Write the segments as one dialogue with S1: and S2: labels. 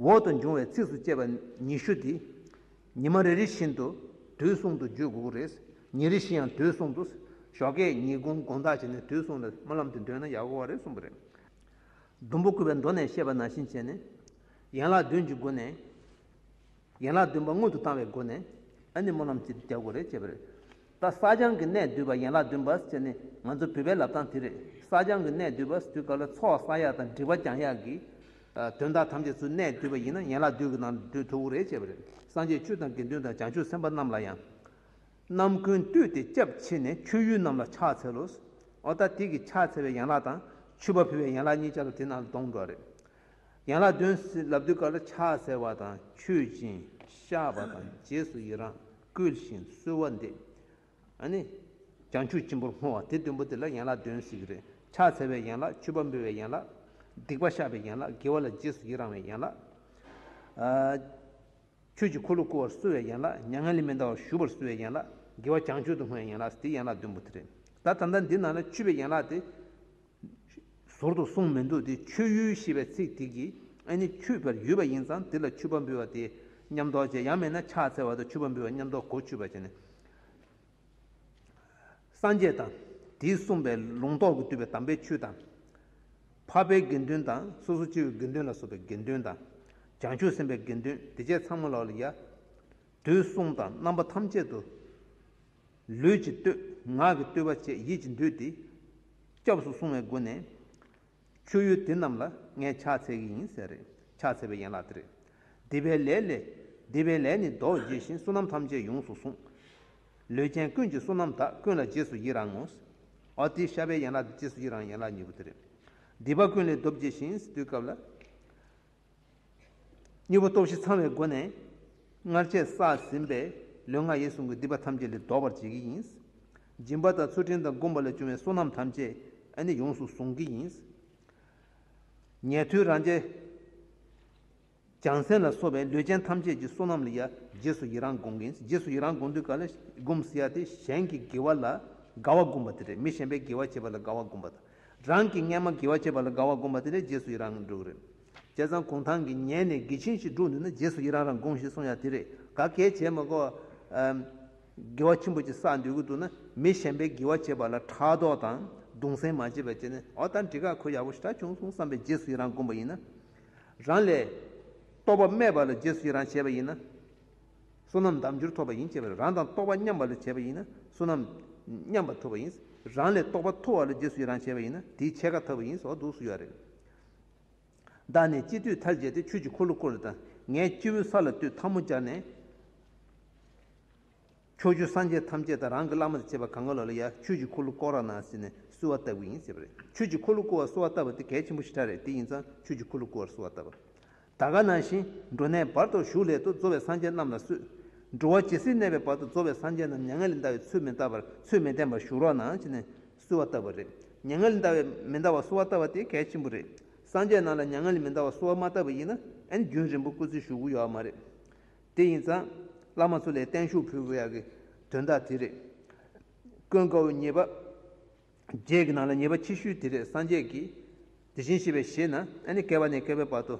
S1: འོག་ཏུ་འབྱུང་བའི་ཚིགས་སུ་བཅད་པ་ཉི་ཤུ་དེ། ཉི་མ་རེ་རེ་བཞིན་དུ་དུས་གསུམ་དུ་བརྗོད་དགོས་རེད། ཉིན་རེ་བཞིན་ཡང་དུས་གསུམ་དུ། ཞོགས་ཀའི་ཉིན་གུང་དགོངས་དག་བྱས་ནས་དུས་གསུམ་ལ་སྨོན་ལམ་དེ་འདོན་ན་ཡག་གོ་རེད་གསུངས་པ་རེད། ཟླུམ་པོ་བསྐུལ་བའི་མདོ་ནས་བཤད་པ་ནང་བཞིན་བྱས་ནས། ཡན་ལག་བདུན་གྱི་སྒོ་ནས། ཡན་ལག་བདུན་པ་སྔོན་དུ་བཏང་བའི་སྒོ་ནས་ཨ་ནི་མོ་རྣམས་ཀྱི་རྒྱ་སྒོ་རེད་ཅེས་པ་རེད། ད་བསགས་སྦྱང་གི་གནད་བསྡུས་པ་ཡན་ལག་བདུན་པ་ཟེར་ནི་ང་ཚོ་བོད་པའི་ལབ་སྟངས་དེ་རེད་བསགས་སྦྱང་གི་གནད་བསྡུས་པ་དུས་སྐབས་ལ་ཚོགས་བསགས་ཡག་དང་འབྲི་བ་སྦྱང་ཡག་གི། དོན་དག་ཐམས་ཅད་ཚུལ་གནད་བསྡུས་པ་ཡིན་ན་ཡན་ལག་བདུན་གྱི་ནང་འདུས་ཐུབ་བོ་རེད་ཅེས་པ་རེད་སངས་རྒྱས་བཅུ་དང་དགེ་འདུན་དང་བྱང་ཆུབ་སེམས་དཔའ་རྣམས་ལ་ཡང། རྣམ་ཀུན་བཏུད་དེ་སྐྱབས་མཆི་ནས་མཆོད་ཡུལ་རྣམས་ལ་ཕྱག་འཚལ་ལོ། ཨོ་ད་དེ་གི་ཕྱག་འཚལ་བའི་ཡན་ལག་དང་མཆོད་པ་ཕུལ་བའི་ཡན་ལག་གཉིས་ཅར་ལ་དེ་རྣམས་ལ་སྡོང་གྲོགས་རེད། ཡན་ལག་བདུན་ཟིན་ལབ་དུས་གར་ལ་ཕྱག་འཚལ་བ་དང་མཆོད་ཅིང་བཤགས་པ་དང་རྗེས་སུ་ཡི་རང་བསྐུལ་ཞིང་གསོལ་བ་འདེབས། བྱང་ཆུབ་སྤྱི་བོར་བསྔོ་བ་དེ་བདུན་པོ་དེ་ལ་ཡན་ལག་བདུན་ཟིག་རེད། ཕྱག་འཚལ་བའི་ཡན་ལག་མཆོད་པ་འབུལ་བའི་ཡན་ལག། སྡིག་པ་བཤགས་པའི་ཡན་ལག་དགེ་བ་ལ་རྗེས་སུ་ཡི་རང་བའི་ཡན་ལག། ཆོས་ཀྱི་འཁོར་ལོ་བསྐོར་བར་གསོལ་བའི་ཡན་ལག་མྱ་ངན་ལས་མི་འདའ་བར་བཞུགས་པར་གསོལ་བའི་ཡན་ལག་དགེ་བ་བྱང་ཆུབ་ཏུ་བསྔོ་བའི་ཡན་ལག་སྟེ་ཡན་ལག་བདུན་པོ་དེ་རེད། ད་ད་ལྟ་འདི་ན་ལ་ཆུད་པའི་ཡན་ལག་དེ། ཟུར་དུ་གསུངས་མི་འདུག་དེ་མཆོད་ཡུལ་ཞེས་པའི་ཚིག་དེ་གིས་ཨེ་ནི་མཆོད་པའི་ཡུལ་བ་ཡིན་ཙང་དེ་ལ་མཆོད་པ་འབུལ་བ་དེ་ཉམས་རྟོགས་བྱེད་ཡང་མེད་ན་ཕྱག་འཚལ་བ་དང་མཆོད་པ་འབུལ་བ་ཉམས་རྟོགས་གོ་ཆོད་པ་བྱས་ནས། སངས་རྒྱས་དང། དེས་གསུངས་པའི་ལུང་རྟོགས་ཀྱིས་བསྡུས་པའི་དམ་པའི་ཆོས་དང། འཕགས་པའི་དགེ་འདུན་དང་སོ་སོ་སྐྱེ་བོའི་དགེ་འདུན་ལ་སོགས་པའི་དགེ་འདུན་དང། བྱང་ཆུབ་སེམས་དཔའི་དགེ་འདུན་སྡེ་བརྒྱད་ཚང་མ་ལ་ཡང། དུས་གསུམ་དང་རྣམ་པ་ཐམས་ཅད་དུ། ལུས་ཀྱི་བཏུད། ངག་གི་བཏུད་པ་བཅས་ཡིད་ཀྱི་འདུས་ཏེ། སྐྱབས་སུ་སོང་བའི་སྒོ་ནས། མཆོད་ཡུལ་དེ་རྣམས་ལ་ངས་ཕྱག་འཚལ་གྱི་ཡིན་ཟེར། ཕྱག་འཚལ་བའི་ཡན་ལག་འདི་རེད། འདི་པའི་ལས་ལས། འདི་པའི་ལས་ནི་རྡོ་རྗེ་བཞིན་བསོད་ནམས་ཐམས་ཅད་ཡོངས་སུ་བཟུང། ལུས་ཅན་ཀུན་གྱི་བསོད་ནམས་དག་ཀུན་ལ་རྗེས་སུ་ཡི་རང་ངོ། ཨཱོ་ཏི་ཤ་བའི་ཡན་ལག་འདི་རྗེས་སུ་ཡི་རང་ཡན་ལག་གཉིས་པོ་འདི་རེད། འདི་པ་ཀུན་ལས་རྡོ་རྗེ་བཞིན་བཏུད་སྐབས་ལ། གཉིས་པོ་སྟོབས་བཞི་ཚང་བའི་སྒོ་ནས། སྔར་བྱས་བསགས་ཟིན་པའི་ལུས་ངག་ཡིད་གསུམ་གྱི་སྡིག་པ་ཐམས་ཅད་ལས་ལྡོག་པར་བྱེད་ཀྱི་ཡིན། སྦྱིན་པ་དང་ཚུལ་ཁྲིམས་དང་བསྒོམ་པ་ལས་བྱུང་བའི་བསོད་ནམས་ཐམས་ཅད་ནི་ཡོངས་སུ་བཟུང་གི་ཡིན། ཉལ་ཐུལ་རང་བྱས། བྱང་སེམས་ལ་སོགས་པའི་ལུས་ཅན་ཐམས་ཅད་ཀྱི་བསོད་ནམས་ལ་ཡང་རྗེས་སུ་ཡི་རང་བསྒོམ་གྱི་ཡིན། རྗེས་སུ་ཡི་རང་བསྒོམ་དུས་ག་ལ་བསྒོམ་ཟེར་ཡ་དེ་གཞན་གྱི་དགེ་བ་ལ་དགའ་བ་བསྒོམ་པ་དེ་རེད་མི་གཞན་པའི་དགེ་བ་བྱེད་པ་ལ་དགའ་བ་བསྒོམ་པ་དང། རང་གི་སྔས་མ་དགེ་བ་བྱས་པ་ལ་དགའ་བ་བསྒོམ་པ་དེ་ལས་རྗེས་སུ་ཡི་རང་འགྲུབ་རེད། བྱས་ཙང་གུང་ཐང་གི་ཉལ་ནས་དགེ་ཆེན་ཞིག་འགྲུབ་འདུག་ན་རྗེས་སུ་ཡི་རང་རང་དགོངས་ཞེས་གསུངས་ཡ་དེ་རེད་ག་གལ་བྱས་མ་གོ། དགེ་བ་ཆེན་པོ་ཅིག་བསགས་འདོད་ཀྱི་འདུག་ན་མི་གཞན་པའི་དགེ་བ་བྱས་པ་ལ་ཕྲག་དོག་དང་གདུང་སེམས་མ་བྱེད་པར་བྱས་ན་ཨོ་ད་འདི་ག་གོ་ཡག་པོ་ཞིག་གྲགས་བྱུང་སོང་བསམ་པའི་རྗེས་སུ་ཡི་རང་བསྒོམ་པ་ཡིན་ན། རང་ལས། རྟོགས་པ་སྨྲས་པ་ལ་རྗེས་སུ་ཡི་རང་བྱས་པ་ཡིན་ན། བསོད་ནམས་དམ་རྒྱུར་ཐོབ་པ་ཡིན་ཅེས་པ་ནི་རང་དང་རྟོག་པ་མཉམ་པ་ལས་བྱས་པ་ཡིན་ན་བསོད་ནམས་མཉམ་པར་ཐོབ་པ་ཡིན། རང་ལས་རྟོག་པ་མཐོ་བ་ལས་རྗེས་སུ་ཡི་རང་བྱས་པ་ཡིན་ན་དེའི་ཕྱེད་ཀ་ཐར་བ་ཡིན་ཟེར་བ་འདུག་སུ་ཡོད་རེད། བདག་ནི་སྤྱི་བསྟོད་མཐར་བྱས་ཏེ་ཆོས་ཀྱི་འཁོར་ལོ་བསྐོར་རེ་ད། ངས་སྤྱི་བོའི་ས་ལ་བསྟོད་ཐ་མོ་སྦྱར་ནས། ཁྱོ་བཅུ་སངས་རྒྱས་ཐམས་ཅད་དང་རང་གི་བླ་མ་དང་བཅས་པ་གང་ག་ལ་ལ་ཡ་ཆོས་ཀྱི་འཁོར་ལོ་བསྐོར་ར་གནང་ཟེར་ནས་གསོལ་བ་བཏབ་ཀྱི་ཡིན་ཟེར་བ་རེད། ཆོས་ཀྱི་འཁོར་ལོ་བསྐོར་བར་གསོལ་བ་བཏབ་པ་དེ་གལ་ཆེན་པོ་ཞིག་ཕྲ་རེད་དེ་ཡིན་ཙང་ཆོས་ཀྱི་འཁོར་ལོ་བསྐོར་བར་གསོལ་བ་བཏབ་པ། ད་ག་ན་བཞིན་འགྲོ་གནས་བར་དོར་ཞུགས་སླད་དུ་འཛོ་བའི་སངས་རྒྱས་རྣམས་ལ་སུས། འགྲོ་བ་ཇི་སྲིད་གནས་པའི་བར་དུ་འཛོ་བའི་སངས་རྒྱས་རྣམས་མྱ་ངན་ལས་འདའ་བའི་ཚུལ་མི་བལྟ་བར་ཚུལ་མི་བསྟན་པར་ཞུགས་རོགས་གནང་བྱས་ནས་གསོལ་བ་བཏབ་པ་རེད། མྱ་ངན་ལས་འདའ་བའི་མི་འདའ་བར་གསོལ་བ་བཏབ་པ་དེ་གལ་ཆེན་པོ་རེད། སངས་རྒྱས་རྣམས་ལ་མྱ་ངན་ལས་མི་འདའ་བར་གསོལ་བ་མ་བཏབ་པ་ཡིན་ན་ཨན་རྒྱུན་རིང་པོ་བཀོད་ཚུལ་ཞུ་དགོས་ཡོད་ཨ་མ་རེད། དེ་ཡིན་ཙང། བླ་མ་ཚོ་ལས་བརྟན་བཞུགས་ཕུལ་དགོས་ཡག་གི་དོན་དག་དེ་རེད། ཀུན་དགའ་བོ་ཉེས་པ། རྗེས་ཀྱི་ནང་ལ་ཉེས་པ་ཅི་ཞུས་དེ་རེད་སངས་རྒྱས་ཀྱིས། དེ་བཞིན་གཤེགས་པའི་ཞེས་ན་ཨ་ནི་བསྐལ་བ་ནས་བསྐལ་བའི་བར་དུ།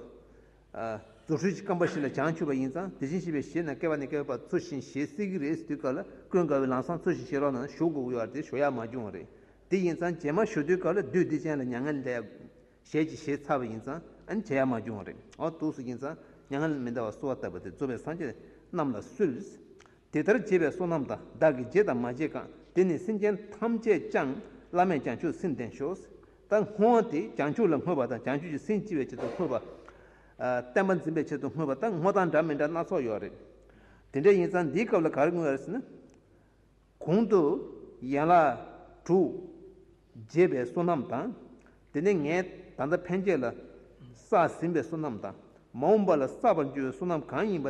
S1: རྫུ་འཕྲུལ་གྱི་བསྐམ་པ་ཞིག་ལ་བྱང་ཆུབ་པ་ཡིན་ཙང་དེ་བཞིན་གཤེགས་པའི་ཞེས་ན་བསྐལ་བ་ནས་བསྐལ་བའི་བར་འཚོ་ཞིང་ཞེས་གསེར་གྱི་རས་སུ་དུས་སྐབས་ལ་ཀུན་དགའ་བོའི་ལམ་སང་འཚོ་ཞིང་ཤེས་རོགས་ནང་ན་ཞུགས་དགོས་ཀྱི་ཡོད་པ་དེ་ཞོ་ཡག་མ་བྱུང་བ་རེད་དེ་ཡིན་ཙང་རྗེས་མ་ཞུ་དུས་སྐབས་ལ་བདུད་སྡིག་ཅན་ལ་མྱ་ངན་ལས། ཞལ་གྱི་ཞེས་ཚ་བ་ཡིན་ཙང་བྱ་ཡ་མ་བྱུང་བ་རེད་ཨོ་དུག་སུ་ཡིན་ཙང་མྱ་ངན་མི་འདའ་བ་གསོལ་བ་བཏབ་པ་དེ་གཙོ་བོས་སངས་རྒྱས་རྣམས་ལ་གསོལ། དེ་ལྟར་བྱས་པའི་བསོད་ནམས་དང་བདག་གིས་བརྗེད་དང་མ་བརྗེད་གང་དེ་ནི་སེམས་ཅན་ཐམས་ཅད་བཅང་བླ་མས་བྱང་ཆུབ་སེམས་ལྡན་ཤོག་ད་སྔོན་དེ་བྱང་ཆུབ་ལ་བསྔོས་པ་དང་བྱང་ཆུབ་ཀྱི་སེམས་ལྕི་བའི་ཆེད་དུ་བསྔོས་པ། བསྟན་པ་འཛིན་པའི་ཆེད་དུ་བསྔོས་པ་ད་སྔོ་དང་འདྲ་མི་འདྲ་སྣ་ཚོགས་ཡོད་རེད། དེ་འདྲ་ཡིན་ཙང་འདིའི་སྐབས་ལ་ག་རེ་བསྔོས་ཡོད་རེད་ཟེར་ན། གོང་དུ་ཡན་ལག་དྲུག། འབྱེད་པའི་བསོད་ནམས་དང། དེ་ནས་ངས་ད་ལྟ་ཕན་ཆད་ལ་བསགས་ཟིན་པའི་བསོད་ནམས་དང་མ་འོངས་པ་ལ་བསགས་པར་འགྱུར་བའི་བསོད་ནམས་གང་ཡིན་པ་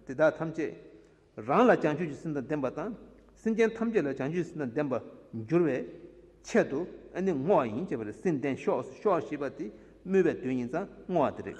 S1: དེ་དག་ཐམས་ཅད་རང་ལ་བྱང་ཆུབ་ཀྱི་སེམས་དང་ལྡན་པ་དང་སེམས་ཅན་ཐམས་ཅད་ལ་བྱང་ཆུབ་ཀྱི་སེམས་དང་ལྡན་པར་འགྱུར་བའི་ཆེད་དུ་ཨ་ནི་བསྔོ་བ་ཡིན་ཅེས་པ་ལས་སེམས་བརྟན་ཤོག་ཤོག་ཞེས་པ་དེ་སྨོས་པའི་དོན་ཡིན་ཙང་བསྔོ་བ་དེ་རེད།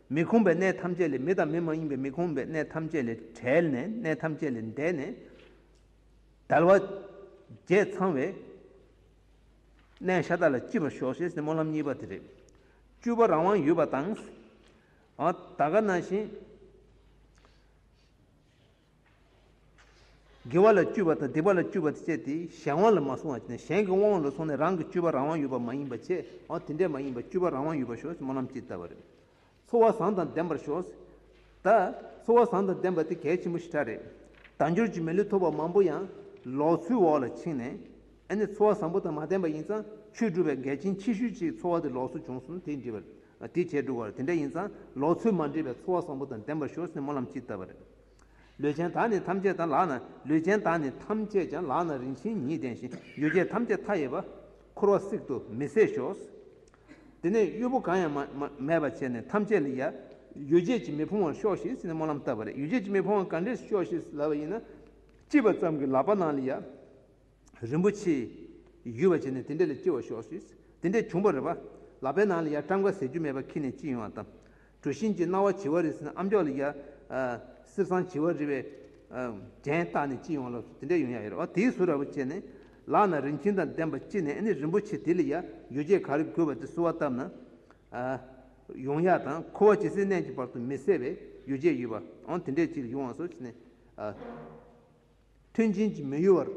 S1: མི་ཁོམ་པའི་གནས་ཐམས་ཅད་ལས་མི་དང་མི་མ་ཡིན་པའི་མི་ཁོམ་པའི་གནས་ཐམས་ཅད་ལས་བྲལ་ནས་གནས་ཐམས་ཅད་ལས་འདས་ནས། དལ་བ། བརྒྱད་ཚང་བའི། གནས་ཤ་སྟག་ལ་ལྕི་བར་ཞོག་ཤེས་སེ་སྨོན་ལམ་གཉིས་པ་དེ་རེད། བཅུ་པ་རང་དབང་ཡོད་པ་དང། ད་ག་ན་བཞིན། དགེ་བ་ལ་སྤྱོད་པ་དང་སྡིག་པ་ལ་སྤྱོད་པ་དེ་སྤྱད་དེ་གཞན་དབང་ལ་མ་སོང་བ་ཅན་གཞན་གྱི་དབང་ལ་སོང་ནས་རང་གི་སྤྱོད་པ་རང་དབང་ཡོད་པ་མ་ཡིན་པ་ཆེ་བ་དེ་འདྲས་མ་ཡིན་པར་སྤྱོད་པ་རང་དབང་ཡོད་པར་ཞོག་སྨོན་ལམ་ཅི་ལྟ་བ་རེད། འཚོ་བ་བཟང་དང་ལྡན་པར་ཞོག་ད། འཚོ་བ་བཟང་དང་ལྡན་པ་དེ་གལ་ཆེན་པོ་ཞེ་དྲག་རེད། དལ་འབྱོར་གྱི་མི་ལུས་ཐོབ་པ་མང་པོ་ཡང་ལོག་འཚོའི་འོག་ལ་ཕྱིན་ནས། ཨ་ནི་འཚོ་བ་བཟང་པོ་དང་མ་ལྡན་པ་ཡིན་ཙང་ཆོས་སྒྲུབ་པའི་འགལ་རྐྱེན་ཆེ་ཤོས་ཅིག་འཚོ་བ་དེ་ལོག་འཚོ་བྱུང་སོང་དེ་འདྲི་བ་རེད། དེ་བྱས་འགྲོ་དགོས་རེད་དེ་འདྲ་ཡིན་ཙང་ལོག་འཚོའི་མ་འདྲེས་པའི་འཚོ་བ་བཟང་པོ་དང་ལྡན་པར་ཞོག་སྨོན་ལམ་ཅི་ལྟ་བ་རེད། ལུས་ཅན་དག་ནི་ཐམས་ཅད་དང་ལག་ན་ལུས་ཅན་དག་ནི་ཐམས་ཅད་ཀྱང་ལག་ན་རིན་ཆེན་ཉིད་ལྡན་ཞིང་ཡུལ་བརྒྱད་ཐམས་ཅད་མཐའ་ཡས་པ། འཁོར་བ་སྲེག་ཏུ་མི་ཟད་ཤོག། དེ་ནས་གཡོས་པོ་གང་ཡང་མེད་པར་བྱས་ནས་ཐམས་ཅད་ལ་ཡ། ཡུལ་བརྒྱད་ཀྱིས་མི་ཕོང་བར་ཤོག་ཤིག་ཅེས་སྨོན་ལམ་བཏབ་པ་ལས་ཡུལ་བརྒྱད་ཀྱིས་མི་ཕོང་བ་ག་འདྲས་ཤོག་ཤིག་ལབ་པ་ཡིན་ན། ཅི་བ་ཙམ་གྱིས་ལག་པ་ན་ལ་ཡ། རིན་པོ་ཆེའི། ཡུལ་བ་བྱས་ནས་དེ་འདྲས་ལ་སྐྱེ་བར་ཤོག། དེ་འདྲས་བྱུང་བར་རེ་བ། ལག་པའི་ནང་ལ་ཡར་བཀྲམ་ཁ་ཟེར་རྒྱུ་མེད་པར་ཁྱེར་ནས་ཅི་ཡོང་བ་བལྟ། གྲུ་བཞིན་གྱི་སྣང་བ་བྱི་བ་རི་ཟེར་ན་ཨམ་ཅོག་ལ་ཡར། སེར་སྲང་བྱི་བ་རི་བའི། གྲན་བཏགས་ནས་ཅི་ཡོང་ལབ་སོང་དེ་འདྲས་ཡོང་ཡ་ཡོད་རེ་བ་དེའི་ཟུར་ར་བ་བྱས་ནས། ལག་ན་རིན་ཆེན་དང་ལྡན་པ་ཅི་ནས་ནི་རིན་པོ་ཆེ་དེ་ལ་ཡར་ཡོ་བྱད་ག་རེ་དགོས་པ་དེ་བསུ་བ་བཏབ་ན། ཡོང་ཡ་དང་ཁུ་བ་ཇི་སྲིད་གནས་ཀྱི་བར་དུ་མི་ཟད་པའི་ཡོ་བྱད་ཡོད་པ་འོང་དེ་འདྲས་ཅིག་ལ་ཡོང་བ་བསུ་བྱས་ནས། མཐུན་རྐྱེན་གྱིས་མི་གཡོ་བར།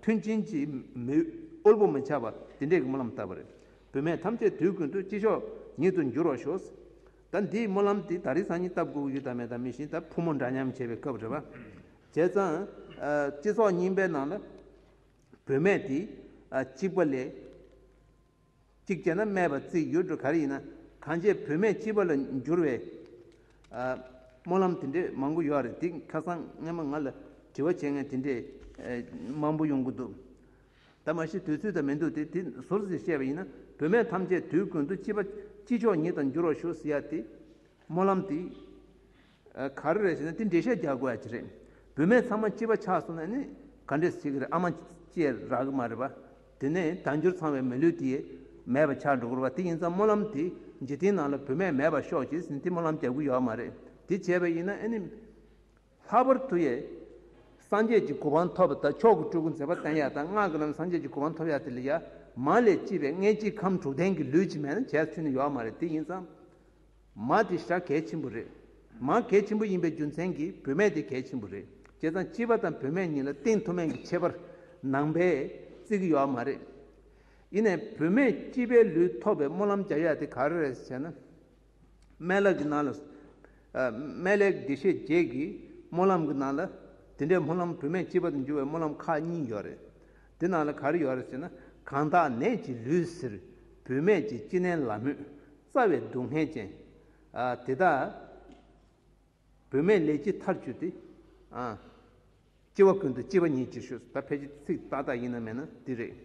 S1: མཐུན་རྐྱེན་གྱིས་མི་དབུལ་པོ་མི་ཆགས་པ་དེ་འདྲའི་སྨོན་ལམ་བཏབ་པ་རེད། བུད་མེད་ཐམས་ཅད་དུས་ཀུན་ཏུ་སྐྱིད་ཤོག་ཉིད་དུ་འགྱུར་བར་ཤོག། ད་འདིའི་སྨོན་ལམ་དེ་ད་རི་སང་ཉིད་ལྟ་བུ་ཡུལ་དང་མེ་དང་མི་ཤིང་དང་ཕོ་མོ་འདྲ་མཉམ་བྱེད་པའི་སྐབས་རེད། བྱས་ཙང། སྤྱི་ཚོགས་རྙིང་པའི་ནང་ལ། བུད་མེད་དེ། གཅིག་པ་ལས། གཅིག་བྱས་ན་སྨྲས་པ་རྩིས་བསྒྱུར་འགྲོ་ག་རེ་ཡིན་ན་གང་བྱས་བུད་མེད་སྤྱི་བ་ལ་འགྱུར་བའི་སྨོན་ལམ་དེ་འདྲའི་མང་པོ་ཡོད་རེད་འདི་ཁ་སང་སྔན་མ་ང་ལ་དྲི་བ་བྱེད་མཁན་དེ་འདྲས་མང་པོ་ཡོང་གི་འདུག་ད་མ་ཤི་དུས་ཚོད་ད་མི་འདུག་དེ་དེ་ཟུར་ཟིར་བཤད་པ་ཡིན་ན་བུད་མེད་ཐམས་ཅད་དུས་ཀུན་ཏུ་སྤྱི་བ་སྤྱི་ཆོག་ཉིད་དང་འགྱུར་བར་ཞུ་ཟེར་ཡ་དེ་སྨོན་ལམ་དེ། ག་རེ་རེད་ཞེ་ན་དེ་འགྲེལ་བཤད་རྒྱག་དགོས་ཡ་གྱི་རེད། བུད་མེད་ཚང་མ་སྐྱིད་པ་ཆགས་སོང་ན་ནི་ག་འདྲས་བྱེད་གི་རེད་ཨ་མ་སྐྱིད་རག་གི་མ་རེད་པ། དེ་ནས་དལ་འབྱོར་ཚང་བའི་མི་ལུས་དེ་མེད་པ་ཆགས་འགྲོ་གི་རེད་པ་དེ་ཡིན་ཙང་སྨོན་ལམ་དེ་འཇིག་རྟེན་ནང་ལ་བུད་མེད་མེད་པ་ཤོག་བྱས་ཟིན་དེ་སྨོན་ལམ་རྒྱག་གི་ཡོད་མ་རེད་དེ་བྱས་པ་ཡིན་ན་ཨ་ནི། ལྷག་པར་དུ་ཡས། སངས་རྒྱས་ཀྱི་གོ་འཕང་ཐོབ་པ་དང་མཆོག་གི་སྤྲུལ་སྐུ་མཛད་པ་བསྟན་ཡ་དང་སྔགས་ཀྱི་ལམ་སངས་རྒྱས་ཀྱི་གོ་འཕང་ཐོབ་ཡ་དེ་ལས་ཡ་མ་ལས་སྐྱིད་པའི་མངལ་སྐྱེས་ཁམས་དྲུག་ལྡན་གྱི་ལུས་ཅིག་མེད་ན་བྱས་ཚུལ་ནི་ཡོད་མ་རེད་དེ་ཡིན་ཙང། མ་དེ་ཤ་གས་ཆེན་པོ་རེད། མ་གས་ཆེན་པོ་ཡིན་པའི་རྒྱུ་མཚན་གྱིས་བུད་མེད་དེ་གས་ཆེན་པོ་རེད། ཅེས་དང་སྐྱིད་པ་དང་བུད་མེད་གཉིས་ལ་གཏིང་མཐོ་དམན་གྱི་ཁྱད་པར་ནང་པས་བརྩི་གི་ཡོད་མ་རེད། ཡིན་ནས་བུད་མེད་སྐྱིད་པའི་ལུས་ཐོག་པའི་སྨོན་ལམ་རྒྱག་ཡ་དེ་ག་རེ་རེད་ཟེར་ན། སྨན་ལག་གི་ནང་ལ། སྨན་ལས་དགེ་བཤེས་བརྒྱད་ཀྱི་སྨོན་ལམ་གྱི་ནང་ལ། དེ་འདྲའི་སྨོན་ལམ་བུད་མེད་སྐྱིད་པ་དུ་འགྱུར་བའི་སྨོན་ལམ་ཁག་གཉིས་ཡོད་རེད། དེ་ནང་ལ་ག་རེ་ཡོད་རེད་ཟེར་ན། གང་དག་ནད་ཀྱི་ལུས་ཟེར་བུད་མེད་ཀྱི་སྐྱིད་ནད་ལ་མོས། རྩ་བའི་སྡུག་བསྔལ་ཅན། དེ་དག། བུད་མེད་ལས་ཅི་མཐར་འགྱུར་ཏེ། སྐྱེ་བ་ཀུན་ཏུ་སྐྱེས་པ་ཉིད་ཅེས་ཞུ། ད་ཕལ་ཆེར་ཚིག་ཏག་ཏག་ཡིན་ནམ་མེད་ན་འདི་རེད།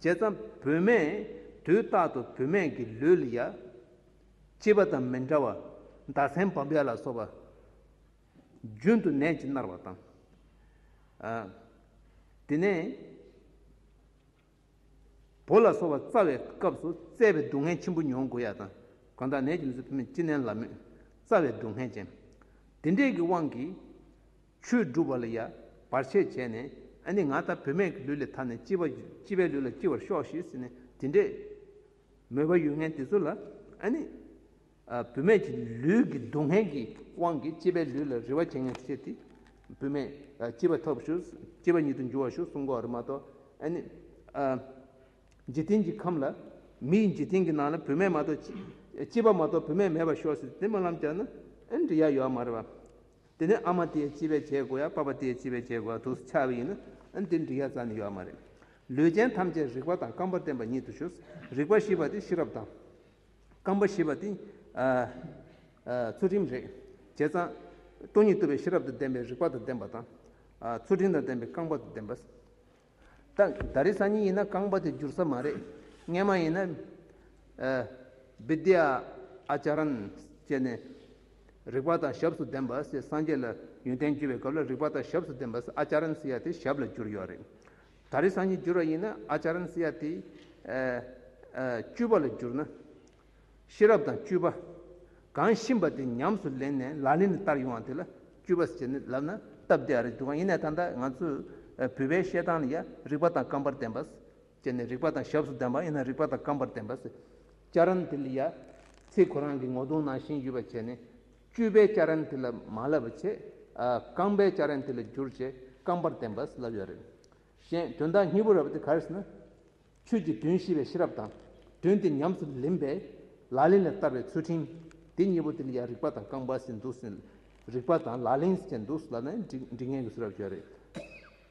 S1: བྱས་ཙང་བུད་མེད་དུས་རྟག་ཏུ་བུད་མེད་ཀྱི་ལུས་ལ་ཡ། སྐྱེས་པ་དང་མི་འདྲ་བར་མདའ་ཚན་བམ་ཡ་ལ་སོགས་པ། རྒྱུན་དུ་ནད་ཀྱིས་མནར་བ་དང། དེ་ནས། བོ་ལ་སོགས་པ་རྩ་བའི་སྐབས་སུ་བཙས་པའི་སྡུག་བསྔལ་ཆེན་པོ་མྱོང་དགོས་ཡ་དང་གང་དག་ནད་ཀྱི་མི་ཚུལ་ཕུན་མེད་ཅི་ནས་ལབ་མོད་རྩ་བའི་སྡུག་བསྔལ་ཅན། འདི་འདྲས་ཀྱི་དབང་གིས། ཆོས་བསྒྲུབ་པ་ལ་ཡ་བར་ཆད་བྱས་ནས་ཨ་ནི་ང་ལྟ་བུ་མེད་ཀྱི་ལུས་ལས་ཐར་ནས་སྐྱིད་པ་སྐྱིད་པའི་ལུས་ལ་སྐྱིད་བར་ཤོག་ཤིག་ཟེར་ནས་འདི་འདྲས། མོས་པ་ཡུལ་ངན་དེ་ཚོ་ལ་ཨ་ནི། བུད་མེད་ཀྱི་ལུས་ཀྱི་སྡུག་བསྔལ་གྱི་དབང་གིས་སྐྱེས་པའི་ལུས་ལ་རེ་བ་བཅིངས་ནས་སྐྱེས་ཏེ། བུད་མེད་སྐྱེས་པ་ཐོབ་ཞུགས་སྐྱེས་པ་ཉིད་དུ་འགྱུར་བ་ཞུགས་གསུམ་གོ་རེ་མ་གཏོགས་ནི། འཇིག་རྟེན་གྱི་ཁམས་ལ་མི་ཡི་འཇིག་རྟེན་གྱི་ནང་ལ་བུད་མེད་མ་གཏོགས་སྐྱེས་པ་མ་གཏོགས་བུད་མེད་མེད་པར་ཤོག་ཟེར་ཏེ་སྨོན་ལམ་བརྒྱག་ན་འདྲི་ཡ་ཡོད་མ་རེད་པ། དེ་ནས་ཨ་མ་དེའི་སྐྱེས་པའི་བྱེད་སྒོ་ཡང་པ་པ་དེའི་སྐྱེས་པའི་བྱེད་སྒོ་ཡང་དུག་ཆགས་པ་ཡིན་ན་འདི་འདྲི་ཡ་ཙམ་ནི་ཡོད་མ་རེད། ལུས་ཅན་ཐམས་ཅད་རིག་པ་དང་རྐང་པར་བརྟེན་པ་ཉིད་དུ་ཞུགས་རིག་པ་ཞི་བ་དེ་ཤེས་རབ་དང། རྐང་པ་ཞེས་པ་དེ། ཚུལ་ཁྲིམས་རེད། བྱས་ཙང། སྟོང་ཉིད་རྟོལ་བའི་ཤེས་རབ་དང་ལྡན་པའི་རིག་པ་དང་ལྡན་པ་དང། ཚུལ་ཁྲིམས་དང་ལྡན་པའི་རྐང་པ་དང་ལྡན་པ། ད་རེས་སང་ཉིན་ཡིན་ན་རྐང་པ་དེ་འགྱུར་ས་མ་རེད། སྔན་མ་ཡིན་ན། བིདྷི་ཨཱ་ཅཱ་རཱན། བྱས་ནས། རིག་པ་དང་ཞབས་སུ་ལྡན་པ། སངས་རྒྱས་ལ་ཡོན་ཏན་བརྒྱུད་པའི་སྐབས་ལ་རིག་པ་དང་ཞབས་སུ་ལྡན་པ། ཨཱ་ཅཱ་རཱན། ཡ་དེ་ཞབས་ལ་གྱུར་ཡོད་རེད། ད་རེས་སང་ཉིན་བསྒྱུར་བ་ཡིན་ན་ཨ་ཅཱ་རན་སི་ཡ་ཏི། སྤྱོད་པ་ལ་བསྒྱུར་ན། ཤེས་རབ་དང་སྤྱོད་པ། གང་བཞིན་པ་དེ་ཉམས་སུ་ལེན་ནས་ལག་ལེན་དུ་བསྟར་ཡོང་བ་དེ་ལ་སྤྱོད་པ་ཟེར་ནི་ལབ་ན་སྟབས་བདེ་ཨ་རེ་འདུག་གང་ཡིན་ན་ད་ལྟ་ང་ཚོས་བོད་པའི་བཤད་སྟངས་ལ་ཡང་རིག་པ་དང་རྐང་པར་ལྡན་པ། ཅེས་ནས་རིག་པ་དང་ཞབས་སུ་ལྡན་པ་ཡིན་ན་རིག་པ་དང་རྐང་པར་ལྡན་པ། ཨ་ཅཱ་རན་དེ་ལ་ཡ། ཚེ་གོ་རང་གི་ངོ་གདོང་ནང་བཞིན་ཡོད་པ་བྱས་ནས་བཅུས་པའི་སྐྱ་རེངས་དེ་ལ་མ་བསླབ་པར་བྱས། རྐང་པའི་སྐྱ་རེངས་དེ་ལ་བསྒྱུར་བྱས་རྐང་པར་བསྟན་པར་བསླབ་ཡོད་རེད། གཞན་དོན་དག་གཉིས་པོ་རབ་དེ་ག་རེ་ཟེར་ན། ཆོས་ཀྱི་དོན་ཤེས་པའི་ཤེས་རབ་དང། དོན་དེ་ཉམས་སུ་ལེན་པའི་ལག་ལེན་ལ་བསྟར་བའི་ཚུལ་ཁྲིམས། དེ་གཉིས་པོ་དེ་ལ་ཡང་རིག་པ་དང་རྐང་པ་ཟིན་འདུག་ཟིན། རིག་པ་དང་ལག་ལེན་བཅས་འདུག་ལ་ནི་འབྲི་ངེས་ཀྱི་སུ་རབ་བྱས་རེད།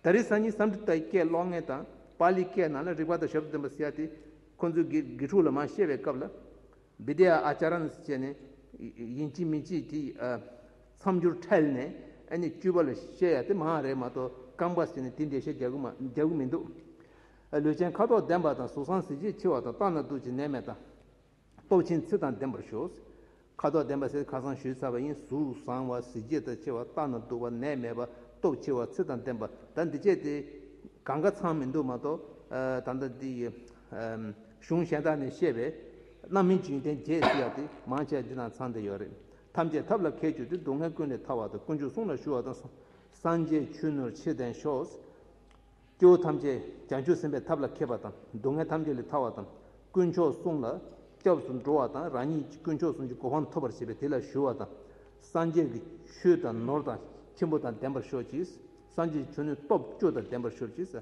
S1: ད་རེས་སང་ཉིན་བསམ་འགྲུབ་དང་ཀྱེ་ལོག་ངན་དང་པཱ་ལིའི་སྐད་ནང་ལ་རིག་པ་དང་ཞབས་ཏུ་བསྟན་པ་ཟེར་ཡ་དེ། ཁོ་ཚོས་དགེ་ཕྲུག་ལ་མ་བཤད་པའི་སྐབས་ལ། Vidya Acharan བཅས་ནི་ཡིན་གཅིག་མིན་གཅིག་གིས་མཚམས་སྦྱོར་ཁྲལ་ནས་ཨ་ནི་བཅུ་བ་ལ་བཤད་ཡ་དེ་མ་རེད་མ་གཏོགས་རྐང་པ་བསྲེས་ནས་དེ་འདྲའི་ཤ་རྒྱག་གི་མི་འདུག། ལུས་ཅན་ཁ་དོག་ལྡན་པ་དང་གཟུགས་བཟང་གཟི་བརྗིད་ཆེ་བ་དང་ལྟ་ན་སྡུག་ཅིང་ནད་མེད་དང། སྟོབས་ཆེན་ཚིག་དང་ལྡན་པར་ཞུགས། ཁ་དོག་ལྡན་པ་ཟེར་ཁ་སང་ཞུས་ཚར་བ་ཡིན་གཟུགས་བཟང་བ་གཟི་བརྗིད་དང་ཆེ་བ་ལྟ་ན་སྡུག་བ་ནད་མེད་པ་སྟོབས་ཆེ་བ་ཚིག་དང་ལྡན་པ་ད་འདི་བཅས་དེ་གང་ག་ཚང་མི་འདུག་མ་གཏོགས་ད་ལྟ་འདི་ཡི་གཞུང་གཞན་དག་ནས་བཤད་པའི། རྣམ་སྨིན་འཇིག་རྟེན་རྒྱས་བསྲི་ཡག་དེ། མང་ཆེ་བ་འདི་དང་ཚང་དེ་ཡོད་རེད། ཐམས་ཅད་ཐབས་ལ་མཁས་གྱུར་ཏེ་སྡུག་བསྔལ་ཀུན་ལས་ཐར་བ་དང་དཀོན་མཆོག་གསུང་ལ་ཞུ་བ་དང། སངས་རྒྱས་ཆོས་ནོར་ཕྱིར་ལྡན་ཤོག། སྐྱེ་བོ་ཐམས་ཅད་བྱང་ཆུབ་སེམས་དཔའི་ཐབས་ལ་མཁས་པ་དང་སྡུག་བསྔལ་ཐམས་ཅད་ལས་ཐར་བ་དང། དཀོན་མཆོག་གསུང་ལ་སྐྱབས་སུ་འགྲོ་བ་དང་རང་ཉིད་ཀྱི་དཀོན་མཆོག་གསུང་གི་གོ་འཕང་ཐོབ་པར་བྱེད་པས་དེ་ལ་ཞུ་བ་དང། སངས་རྒྱས་ཀྱི་ཆོས་དང་ནོར་དང་ཁྱིམ་པོ་དང་ལྡན་པར་ཤོག་ཅིག། སངས་རྒྱས་ཀྱི་ཆོས་ནི་སྟོབས་བཅུ་དང་ལྡན་པར་ཤོག་ཅིག།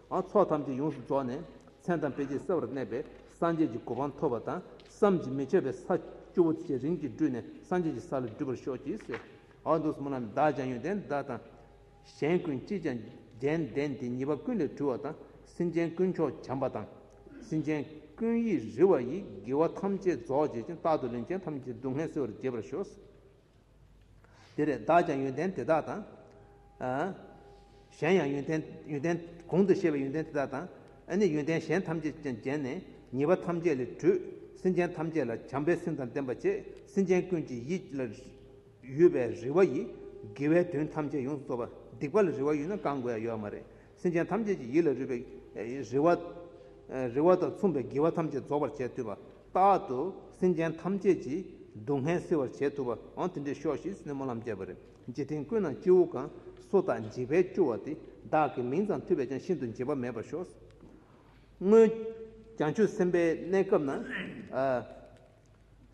S1: ཨ་ཚོགས་ཐམས་ཅད་ཡོངས་སུ་རྫོགས་ནས་མཚན་དང་དཔེ་བྱད་གསལ་བར་གནས་པས་སངས་རྒྱས་ཀྱི་གོ་འཕང་ཐོབ་པ་དང་བསམ་གྱིས་མི་ཁྱབ་པའི་ས། སྐྱུར་པོ་ཆེ་རིམ་གྱིས་སྦྲུས་ནས་སངས་རྒྱས་ཀྱི་ས་ལ་འདུས་པར་ཤོག་ཅིག། ཧཱུྃ། མདོ་སྨོན་ལམ་བདག་ཅག་ཡོན་ཏན་བདག་དང། གཞན་ཀུན་ཅིས་ཀྱང་རྒྱན་ལྡན་དེ་ཉེས་པ་ཀུན་ལས་གྲོལ་བ་དང་སེམས་ཅན་ཀུན་མཆོག་བྱམས་པ་དང། སེམས་ཅན་ཀུན་ཡིད་རི་བ་ཡི་དགེ་བ་ཐམས་ཅད་རྫོགས་བྱེད་ཅིང་རྟག་ཏུ་ལན་ཅན་ཐམས་ཅད་སྡུག་བསྔལ་སེལ་བར་བགྱེད་པར་ཤོག། འདིར་བདག་ཀྱང་ཡོན་ཏན་དེ་དག་དང། གཞན་ཡང་ཡོན་ཏན་ཡོན་ཏན་གོང་དུ་བཤད་པའི་ཡོན་ཏན་དེ་དག་དང། ཨ་ནི་ཡོན་ཏན་གཞན་ཐམས་ཅད་ཀྱང་བརྒྱན་ནས་ཉེས་པ་ཐམས་ཅད་ལས་གྲོལ། སེམས་ཅན་ཐམས་ཅད་ལ་བྱམས་པའི་སེམས་དང་ལྡན་པ་ཆེ་སེམས་ཅན་ཀུན་གྱི་ཡིད་ལ་ཡོད་པའི་རེ་བ་ཡིས་དགེ་བའི་དོན་ཐམས་ཅད་ཡོངས་སུ་རྫོགས་པ་སྡིག་པ་ལ་རེ་བ་ཡོད་ན་བསྐང་དགོས་ཡ་ཡོད་མ་རེད། སེམས་ཅན་ཐམས་ཅད་ཀྱི་ཡིད་ལ་རུས་པའི་རིལ་བ། རིལ་བ་དང་མཚུངས་པའི་དགེ་བ་ཐམས་ཅད་རྫོགས་པར་བྱས་ཐུབ་པ། རྟག་ཏུ་སེམས་ཅན་ཐམས་ཅད་ཀྱི་སྡུག་བསྔལ་སེལ་བར་བྱས་ཐུབ་པའང་དེ་འདྲའི་ཤོག་ཤིག་སེར་མོ་ལམ་བརྒྱད་པ་རེ་རྗེ་དེང་ཀུན་ན་སྐྱེ་བོ་གང་སུ་དག་འཇིགས་པས་སྐྱོ་བ་དེ་དག་གི་མིང་ཙམ་ཐོས་པས་ཀྱང་ཤིན་ཏུ་འཇིགས་པ་མེད་པར་ཤོག། སྔོན། བྱང་ཆུབ་སེམས་དཔའི་གནས་སྐབས་ན།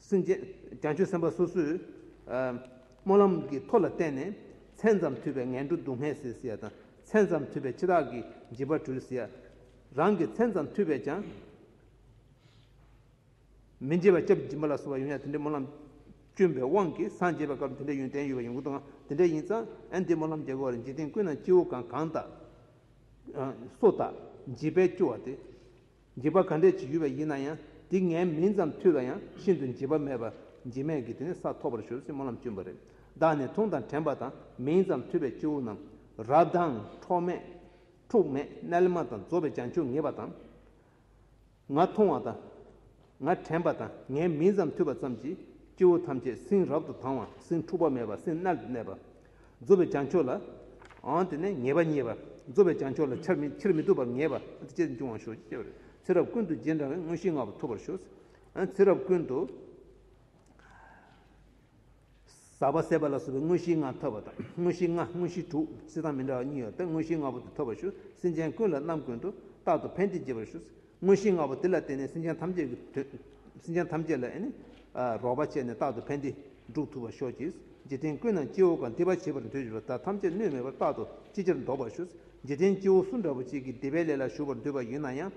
S1: སྲིན། རྒྱང་སྐྱོད་སེམས་དཔའ་སོ་སོས། སྨོན་ལམ་གྱི་མཐོ་ལ་བརྟེན་ནས། མཚན་ཙམ་ཐོས་པའི་ངན་འགྲོ་སྡུག་བསྔལ་སེལ་ཟེར་ཡ་དང། མཚན་ཙམ་ཐོས་པའི་འཆི་བདག་གི་འཇིགས་པ་གྲོལ་ཟེར་ཡ། རང་གིས་མཚན་ཙམ་ཐོས་པས་ཀྱང། མི་འཇིགས་པ་སྐྱབས་སྦྱིན་པ་ལ་སོགས་པ་ཡོད་ཡ་དེ་འདྲའི་སྨོན་ལམ། སྐྱོན་པའི་དབང་གིས་སངས་རྒྱས་པའི་སྐབས་དེ་འདྲའི་ཡོན་ཏན་ཡོད་པ་ཡོང་གི་འདུག་ཨང་དེ་འདྲ་ཡིན་ཙང་འདིའི་སྨོན་ལམ་རྒྱག་དགོས་བ་རེད་འཇིག་རྟེན་ཀུན་ན་སྐྱེ་བོ་གང་གང་དག། སོ་དག་འཇིགས་པས་སྐྱོ་བ་དེ། འཇིགས་པ་ག་འདྲས་བྱེད་ཡུལ་བ་ཡིན་ན་ཡང་འདི་ངའི་མིང་ཙམ་ཐོས་པ་ཡང་ཤིན་ཏུ་འཇིགས་པ་མེད་པར་འཇིགས་མེད་ཀྱི་དེ་ནས་ས་ཐོབ་པར་ཞུ་སྲིད་སྨོན་ལམ་གཅུན་པ་རེད་བདག་ནི་འཐུང་དང་དྲན་པ་དང་མིང་ཙམ་ཐོས་པའི་སྤྱི་བོ་རྣམས་རབ་དྭངས་འཕྲོག་མེད་འཁྲུགས་མེད་རྣལ་མ་དང་རྫོགས་པའི་བྱང་ཆུབ་ངེས་པ་དང། ང་འཐུང་བ་དང། ང་དྲན་པ་དང་ངའི་མིང་ཙམ་ཐོས་པ་ཙམ་གྱིས་སྤྱི་བོ་ཐམས་ཅད་སྲིན་རབ་ཏུ་དྭངས་བ་སྲིན་འཁྲུགས་པ་མེད་པ་སྲིན་རྣལ་དུ་གནས་པ། རྫོགས་པའི་བྱང་ཆུབ་ལ། འོན་ཏེ་ནི་ངེས་པ་གཉིས་པ། རྫོགས་པའི་བྱང་ཆུབ་ལ་ཕྱིར་མི་ལྡོག་པར་ངེས་པ་དེ་སྐད་ཅེས་འབྱུང་བར་ཞུ། ཚེ་རབས་ཀུན་ཏུ་རྗེས་འབྲང་བའི་དངོས་གཞིའི་བསྔགས་པ་ཐོབ་པར་ཞུ། ཚེ་རབས་ཀུན་ཏུ། ཟག་པ་ཟད་པ་ལ་སོགས་པའི་དངོས་གཞིའི་བསྔགས་ཐོབ་པ་དང། དངོས་གཞི་ལྔ་དངོས་གཞི་དྲུག་སྲིད་དང་མི་འདྲ་བ་གཉིས་ཡོད་པས་དངོས་གཞིའི་བསྔགས་པ་དེ་ཐོབ་པར་ཞུ། སེམས་ཅན་ཀུན་ལ་རྣམ་ཀུན་ཏུ། རྟག་ཏུ་ཕན་བདེ་བགྱིད་པར་ཞུ། དངོས་གཞི་ལྔ་པོ་དེ་ལ་བརྟེན་ནས་སེམས་ཅན་ཐམས་ཅད་ཀྱི་དོན། སེམས་ཅན་ཐམས་ཅད་ལ་རོགས་པ་བྱས་ནས་རྟག་ཏུ་ཕན་བདེ་སྒྲུབ་ཐུབ་པར་ཤོག་ཅིག། རྗེས་དྲན་ཀུན་ནང་སྐྱེ་བོ་གང་འདུས་པ་བྱེད་པར་འདོད་འཇོ་ལ་ད་ཐམས་ཅད་གནོད་མེད་པར་རྟག་ཏུ་ཅི་ཕྱིར་འདོགས་པར་ཞུ། རྗེས་དྲན་སྐྱེ་བོ་སུ་འདྲ་བོ་ཅིག་གིས་སྡེ་པའི་ལས་ལ་ཞུགས་པར་འདོད་པ་ཡིན་ན་ཡང།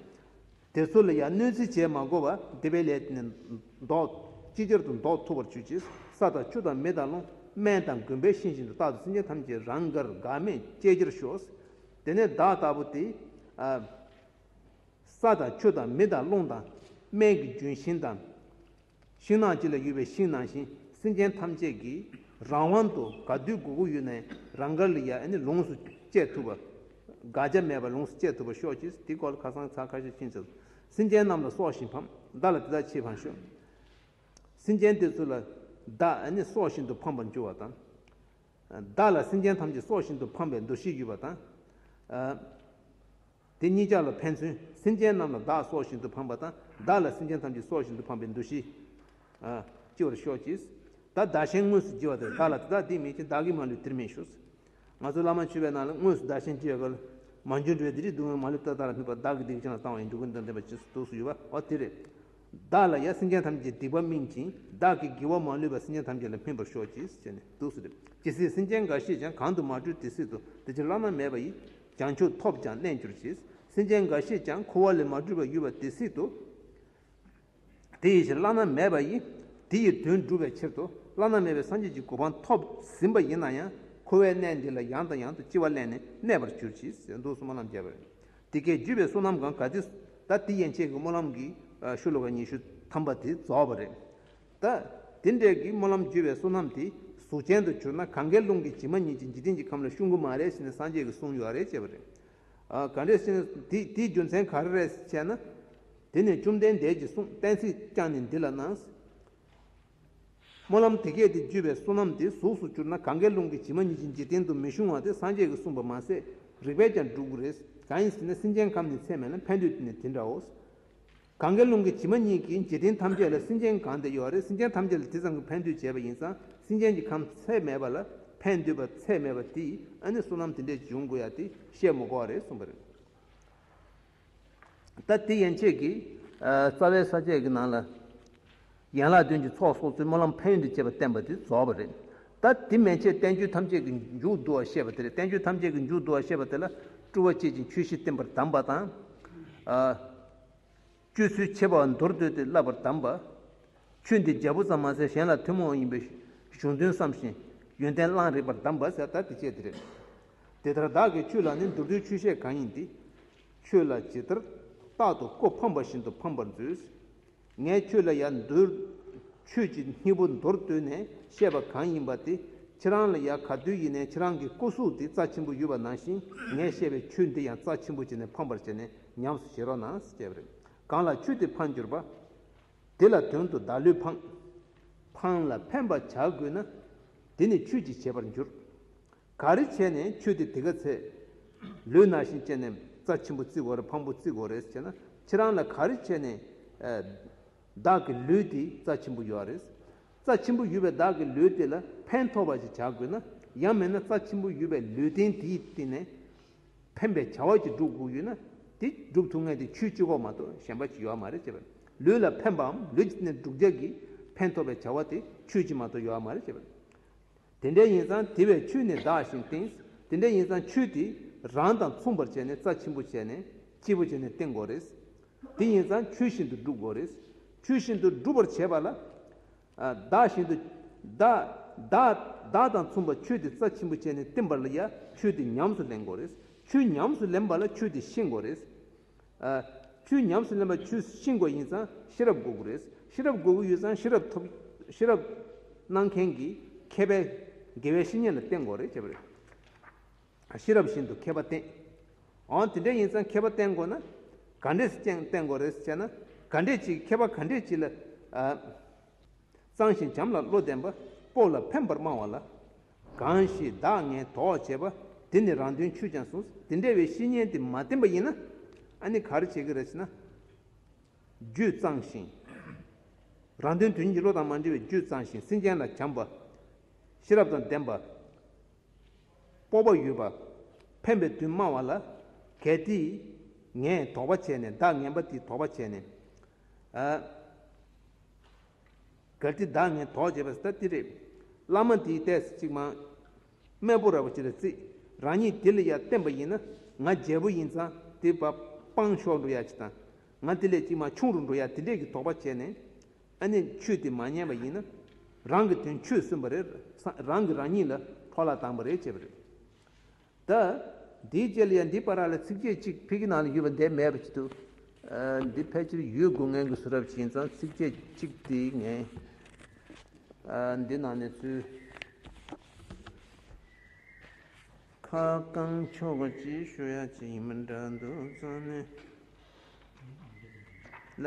S1: དེ་ཚོ་ལ་ཡང་གནོད་འཚེ་བྱས་མ་དགོས་པར་སྡེ་པའི་ལས་དེ་ནས་འདོགས། ཅི་ཕྱིར་དུ་འདོགས་ཐུབ་པར་ཞུ་ཅིག། ས་དང་ཆུ་དང་མི་དང་རླུང། སྨན་དང་དགོན་པའི་ཤིང་བཞིན་དུ་རྟག་ཏུ་སེམས་ཅན་ཐམས་ཅད་རང་དགར་འགག་མེད་སྐྱེ་རྒྱུར་ཤོག། དེ་ནས་བདག་ལྟ་བུ་དེས། ས་དང་ཆུ་དང་མི་དང་རླུང་དང། སྨན་གྱི་རྒྱུན་ཤིང་དང། ཤིང་ནགས་སྤྱི་ལ་ཡོད་པའི་ཤིང་ནགས་བཞིན་སེམས་ཅན་ཐམས་ཅད་ཀྱིས་རང་དབང་དུ་དགའ་བདེའི་དགོས་མཁོ་ཡོད་ནའི་རང་དགར་ལི་ཡ་ནི་ལོངས་སུ་སྤྱད་ཐུབ་པ། དགག་བྱ་མེད་པར་ལོངས་སུ་སྤྱད་ཐུབ་པར་ཤོག་ཅིག་དེ་སྐོར་ལ་ཁ་སང་ཚ་ཁ་ཤས་ཕྱིན་ཚེ། སེམས་ཅན་རྣམས་ལ་སྲོག་བཞིན་ཕམ། བདག་ལ་དེ་དག་ཆེས་ཕངས་ཤོག། སེམས་ཅན་དེ་ཚོ་ལ་བདག་ནི་སྲོག་བཞིན་དུ་ཕམ་པར་འགྱུར་བ་དང། བདག་ལ་སེམས་ཅན་ཐམས་ཅད་སྲོག་བཞིན་དུ་ཕམ་པའི་འདུ་ཤེས་ཡོད་པ་དང། དེ་གཉིས་ཀ་ལ་ཕན་ཚུན་སེམས་ཅན་རྣམས་ལ་བདག་སྲོག་བཞིན་དུ་ཕངས་པ་དང་བདག་ལ་སེམས་ཅན་ཐམས་ཅད་སྲོག་བཞིན་དུ་ཕངས་པའི་འདུ་ཤེས། ལྕི་བར་ཤོག་ཅིག། ད་བདག་གཞན་དངོས་སུ་བགྱི་བ་དེར་བདག་ལ་དེ་དག་སྡིག་མེད་ཅིང་བདག་གིས་མ་ལུས་དེར་མི་ཞུགས། ང་ཚོ་བླ་མ་མཆོད་པའི་ནང་ལ་དངོས་སུ་བདག་གཞན་བགྱི་བའི་སྐབས་ལ། མ་འབྱོན་འགྲོ་བའི་སྡིག་སྒྲིབ་སྡུག་བསྔལ་མ་ལུས་ཏག་ཏག་ལ་སྨིན་པ་བདག་གི་སྡིག་གཞན་ལ་བཏང་བ་ཡིན་འགྲོ་ཀུན་དོན་ལྡན་པ་སྤྱི་གཙུག་ཏུ་ཡོད་པ་འོ་དེ་རེད། བདག་ལ་ཡང་སེམས་ཅན་ཐམས་ཅད་སྡིག་པ་སྨིན་ཅིང་བདག་གིས་བགྱི་བ་མ་ལུས་པ་སེམས་ཅན་ཐམས་ཅད་ལ་སྨིན་པར་ཤོག་ཅིག་ཅེས་ནས་གདུགས་སུ་སྒྲིབ། ཇི་སྲིད་སེམས་ཅན་འགའ་ཤས་ཀྱང་གང་དུ་མ་བྲོས་དེ་སྲིད་དུ་དེ་ཕྱིར་བླ་ན་མེད་པ་ཡི། བྱང་ཆུབ་ཐོབ་ཀྱང་གནས་འགྱུར་གྱིས། སེམས་ཅན་འགའ་ཤས་ཀྱང་འཁོར་བ་ལས་མ་གྲོལ་བར་ཡུལ་བ་དེ་སྲིད་དུ། དེ་ཡི་ཕྱིར་བླ་ན་མེད་པ་ཡིས། དེ་ཡི་དོན་བསྒྲུབ་པའི་ཕྱིར་དུ། བླ་ན་མེད་པའི་སངས་རྒྱས་ཀྱི་གོ་འཕང་ཐོབ་ཟིན་པ་ཡིན་ན་ཡང། འཁོར་བའི་གནས་འདི་ལ་ཡང་དང་ཡང་དུ་ལྕི་བ་བརླན་ནས་གནས་པར་གྱུར་གྱིས་ཟེར་མདོ་སྲུང་མ་རྣམས་རྒྱལ་བས། དེ་སྐད་བརྒྱུད་པའི་བསོད་ནམས་གང་གཱ་དེ། ད་དེ་ཡན་ཆད་ཀྱི་སྨོན་ལམ་གྱིས། ཤུ་ལོ་ཀ་ཉི་ཤུ་ཐམ་པ་དེ་རྫོགས་པ་རེད། ད། དེ་འདྲའི་གིས་སྨོན་ལམ་བརྒྱུད་པའི་བསོད་ནམས་དེ་གཟུགས་ཅན་དུ་གྱུར་ན་གངྒཱའི་ཀླུང་གི་བྱེ་མ་སྙེད་ཀྱི་འཇིག་རྟེན་གྱི་ཁམས་ལ་ཤུགས་འགུལ་མང་རེ་བྱས་ནས་སངས་རྒྱས་ཀྱི་གསུང་ཡོད་རེ་བྱས་པ་རེད། ག་འདྲའི་བསོད་ནམས་དེ་དེའི་རྒྱུ་མཚན་ག་རེ་རེད་བྱས་ན། དེ་ནས་བཅོམ་ལྡན་འདས་ཀྱིས་གསུང་གཏན་ཚིགས་བསྐྱངས་ནས་འདི་ལ་གནང། སྨོན་ལམ་དེ་སྐད་དེ་བརྒྱུད་པའི་བསོད་ནམས་དེ་གཟུགས་སུ་གྱུར་ན་གངྒཱའི་ཀླུང་གི་བྱེ་མ་སྙེད་ཀྱི་འཇིག་རྟེན་དུ་མི་ཤོང་བ་དེ་སངས་རྒྱས་ཀྱིས་གསུངས་པ་མ་ཟད་རིགས་པས་ཀྱང་འགྲུབ་རེད། གང་ཡིན་ཟེར་ན་སེམས་ཅན་ཁམས་ནི་ཚད་མེད་ལ་ཕན་འདོད་དེ་ནི་དེ་འདྲའོ། གང་གཱའི་ཀླུང་གི་བྱེ་མ་སྙེད་ཀྱི་འཇིག་རྟེན་ཐམས་ཅད་ལ་སེམས་ཅན་གང་དེ་ཡོད་རེ་སེམས་ཅན་ཐམས་ཅད་ལ་དེ་ཙམ་གྱི་ཕན་འདོད་བྱེད་པ་ཡིན་ཙང་སེམས་ཅན་གྱི་ཁམས་ཚད་མེད་པ་ལ་ཕན་འདོད་པ་ཚད་མེད་པ་དེས་ཨ་ནི་བསོད་ནམས་དེ་འདྲས་འབྱུང་དགོས་ཡ་དེ་བཤད་མི་དགོས་རེ་གསུངས་པ་རེད། ད་དེ་ཡན་ཆད་ཀྱི་རྩ་བའི་ས་བཅད་ཀྱི་ནང་ལ། ཡན་ལག་བདུན་གྱི་ཚོགས་སོགས་ཚུལ་སྨོན་ལམ་ཕན་ཡོན་དུ་བྱེད་པ་བསྟན་པ་དེ་རྫོགས་པ་རེད། ད་དེ་མན་ཆད་བསྟན་བཅོས་ཐམས་ཅད་ཀྱི་མཇུག་བསྡུ་བར་བཤད་པ་དེ་རེད་བསྟན་བཅོས་ཐམས་ཅད་ཀྱི་མཇུག་བསྡུ་བར་བཤད་པ་དེ་ལ་སྤྲུལ་བ་བསྐྱེད་ཅིང་ཆོས་བཞི་བསྟན་པར་གདམས་པ་དང། སྤྱོད་ཚུལ་འཆད་པ་མདོར་བསྡུས་ཏེ་བསླབ་པར་གདམས་པ། ཆོས་འདི་རྒྱལ་པོ་ཙམ་མ་ཟད་གཞན་ལ་ཐུན་མོང་ཡིན་པའི་གཞུང་དོན་བསམ་བཞིན་ཡོན་ཏན་བླངས་རིགས་པར་གདམས་པ། ད་དེ་བཅས་དེ་རེད། དེ་ལྟར་བདག་གིས་ཆོས་ལ་ནི་མདོར་བསྡུས་ཆོས་བཤད་གང་ཡིན་དེ། ཆོས་ལ་ཇི་ལྟར་རྟག་ཏུ་ཀོ་ཕམ་པ་བཞིན་དུ་ཕམ་པར་མཛོད། ངས་ཁྱོད་ལ་ཡང་འདུལ། ཆོས་ཀྱི་སྙིང་པོ་མདོར་བསྡུས་ནས་བཤད་པ་གང་ཡིན་པ་དེ་ཁྱེད་རང་ལ་ཡང་ག་དུས་ཡིན་ནའི་ཁྱེད་རང་གི་སྐུ་གཟུགས་དེ་རྩ་ཆེན་པོ་ཡོད་པ་ནང་བཞིན་ངས་བཤད་པའི་ཆོས་འདི་ཡང་རྩ་ཆེན་པོ་བྱས་ནས་ཕངས་པར་བྱས་ནས་ཉམས་སུ་བཞེས་རོགས་གནང་ཞེས་བྱས་པ་རེད། གང་ལ་ཆོས་དེ་ཕངས་གྱུར་པ། དེ་ལ་དོན་དུ་བདག་ལུས་ཕངས། ཕངས་ལ་ཕན་པར་བྱ་དགོས་ན། དེ་ནི་ཆོས་ཀྱིས་བྱས་པར་འགྱུར། ག་རེ་བྱས་ནས་ཁྱོད་དེ་དེ་ག་ཚད། ལུས་ན་ཤིང་ལྕེ་ནེམ་རྩ་ཆེན་པོ་བརྩིག་གོ་བམ་པོ་བརྩིག་གོ་རེས་བྱས་ན་ཁྱེད་རང་ལ་ག་རེ་བྱས་ནས། བདག་གི་ལུས་དེ་རྩ་ཆེན་པོ་ཡོད་ཨ་རེས། རྩ་ཆེན་པོ་ཡོད་པའི་བདག་གི་ལུས་དེ་ལ་ཕན་ཐོགས་པ་ཞིག་བྱ་དགོས་ན། ཡང་མེད་ན་རྩ་ཆེན་པོ་ཡོད་པའི་ལུས་རྟེན་དེའི་སྟེང་ནས། ཕན་པའི་བྱ་བ་ཅིག་སྒྲུབ་དགོས་ཡོད་ན། དེ་སྒྲུབ་ཐུབ་ངེས་དེ་ཆུའི་སྤྱི་ཁོག་མ་གཏོགས་གཞན་པ་ཅིག་ཡོད་མ་རེད་བྱས་པས། ལུས་ལ་ཕན་པའམ་ལུས་ཀྱི་སྟེང་ནས་འབྲུག་བརྒྱག་གིས་ཕན་ཐོགས་པའི་བྱ་བ་དེ་ཆུའི་སྤྱི་མ་གཏོགས་ཡོད་མ་རེད་བྱས་པས། དེ་འདྲའི་ཡིན་ཙང་དེ་བས་ཆུ་ནི་བདག་ཞིང་བཏིངས། དེ་འདྲའི་ཡིན་ཙང་ཆུ་དེས་རང་དང་མཚུངས་པར་བྱས་ནས་རྩ་ཆེན་པོ་བྱས་ནས་སྐྱིད་པོ་བྱས་ནས་བཏིང་དགོས་རེད། དེ་ཡིན་ཙང་ཆུ་བཞིན་དུ་བསྒྲུབ་དགོས་རེད། ཆུ་བཞིན་དུ་སྒྲུབ་པར་བྱེད་པ་ལ། བདག་བཞིན་དུ། བདག། བདག། བདག་དང་མཚུངས་པར་ཆུ་དེ་རྩ་ཆེན་པོ་བྱས་ནས་བཏིང་བ་ལ་ཡང་ཆུ་དེ་ཉམས་སུ་ལེན་དགོས་རེད། ཆུ་ཉམས་སུ་ལེན་པ་ལ་ཆུ་དེ་ཤེས་དགོས་རེད། ཆུ་ཉམས་སུ་ལེན་པ་ཆུ་ཤིང་སྒོ་ཡིན་ཙང་ཤེས་རབ་སྒོ་དགུ་རེད། ཤེས་རབ་སྒོ་དགུ་ཡོད་ཙང་ཤེས་རབ་ཐོབ། ཤེས་རབ། གནང་མཁན་གྱི་མཁས་པས་དགེ་བའི་བཤེས་གཉེན་ལ་བསྟེན་དགོས་རེད་བྱས་པ་རེད། ཤེས་རབ་བཞིན་དུ་མཁས་པ་བསྟེན། འོང་དེ་འདྲ་ཡིན་ཙང་མཁས་པ་བསྟེན་དགོས་ན། ག་འདྲས་བསྟེན་དགོས་རེད་བྱས་ན། ག་འདྲས་ཅིག་མཁས་པ་ག་འདྲས་ཅིག་ལ། གཙང་ཞིང་བྱམས་ལ་བློ་ལྡན་པ། སྤོབས་ལ་ཕན་པར་སྨྲ་བ་ལ། གང་ཞིག་བདག་ངས་དོགས་བྱས་པ་དེ་ནི་རང་དོན་ཆུད་ཀྱང་གསུངས། དེ་འདྲ་བའི་བཤེས་གཉེན་དེ་མ་བསྟེན་པ་ཡིན་ན། ཨ་ནི་ག་རེ་བྱེད་ཀྱི་རེད་ཟེར་ན། རྒྱུད་གཙང་ཞིང། རང་དོན་དོན་གྱི་བློ་དང་མ་འབྲེལ་བའི་རྒྱུད་གཙང་ཞིང་སེམས་ཅན་ལ་བྱམས་པ། ཤེས་རབ་དང་ལྡན་པ། སྤོབས་པ་ཡོད་པ། ཕན་པའི་དོན་སྨྲ་བ་ལ། གལ་ཏེ། ངས་དོགས་པ་བྱས་ནས་བདག་ངན་པ་དེས་དོགས་པ་བྱས་ནས། གལ་ཏེ་བདག་ནི་དོགས་བྱེད་པ་སྟ་ཏི་རེ། བླ་མ་འདིའི་ལྟས་སུ་ཅིག་མ། སྨལ་པོ་ར་བ་ཅི་ལ་སྲིད། རང་ཉིད་དེ་ལ་ཡང་བརྟེན་པ་ཡིན་ན། ང་རྒྱལ་པོ་ཡིན་ཙང་དེ་བ་སྤངས་ཤོག་འགྲོ་ཡ་ཅིག་དང། ང་དེ་ལས་ཅིག་མ་ཆུང་རུ་འགྲོ་ཡ་དེ་འདྲས་ཀྱི་དོགས་པ་བྱས་ནས། ཨ་ནི་ཆོས་འདི་མ་མཉན་པ་ཡིན་ན། རང་གི་དོན་ཆོས་སུན་པ་རེད། རང་གིས་རང་ཉིད་ལ་ཕོག་ལ་དང་པ་རེད་བྱས་པ་རེད། ད་དེའི་རྗེས་ལ་ཡང་འདི་པ་ར་ལ་ཚིགས་བཅད་གཅིག་ཕལ་གྱི་ནང་ལ་ཡོད་པ་འདས་མེད་པ་ཅིག་འདུག་འདི་ཕལ་ཆེར་ཡུལ་དགུ་ངན་གྱི་གཟུགས་རབ་བྱིན་ཙང་ཚིགས་བཅད་གཅིག་དེ་ངན། འདི་ནང་ནས་ཚུལ་ཁ་བསྐང་ཆོག་གི་ཅེས་ཤོད་ཡ་ཅི་ཡིན་མི་འདྲ་འདུག་ཙང་ནས་ལ།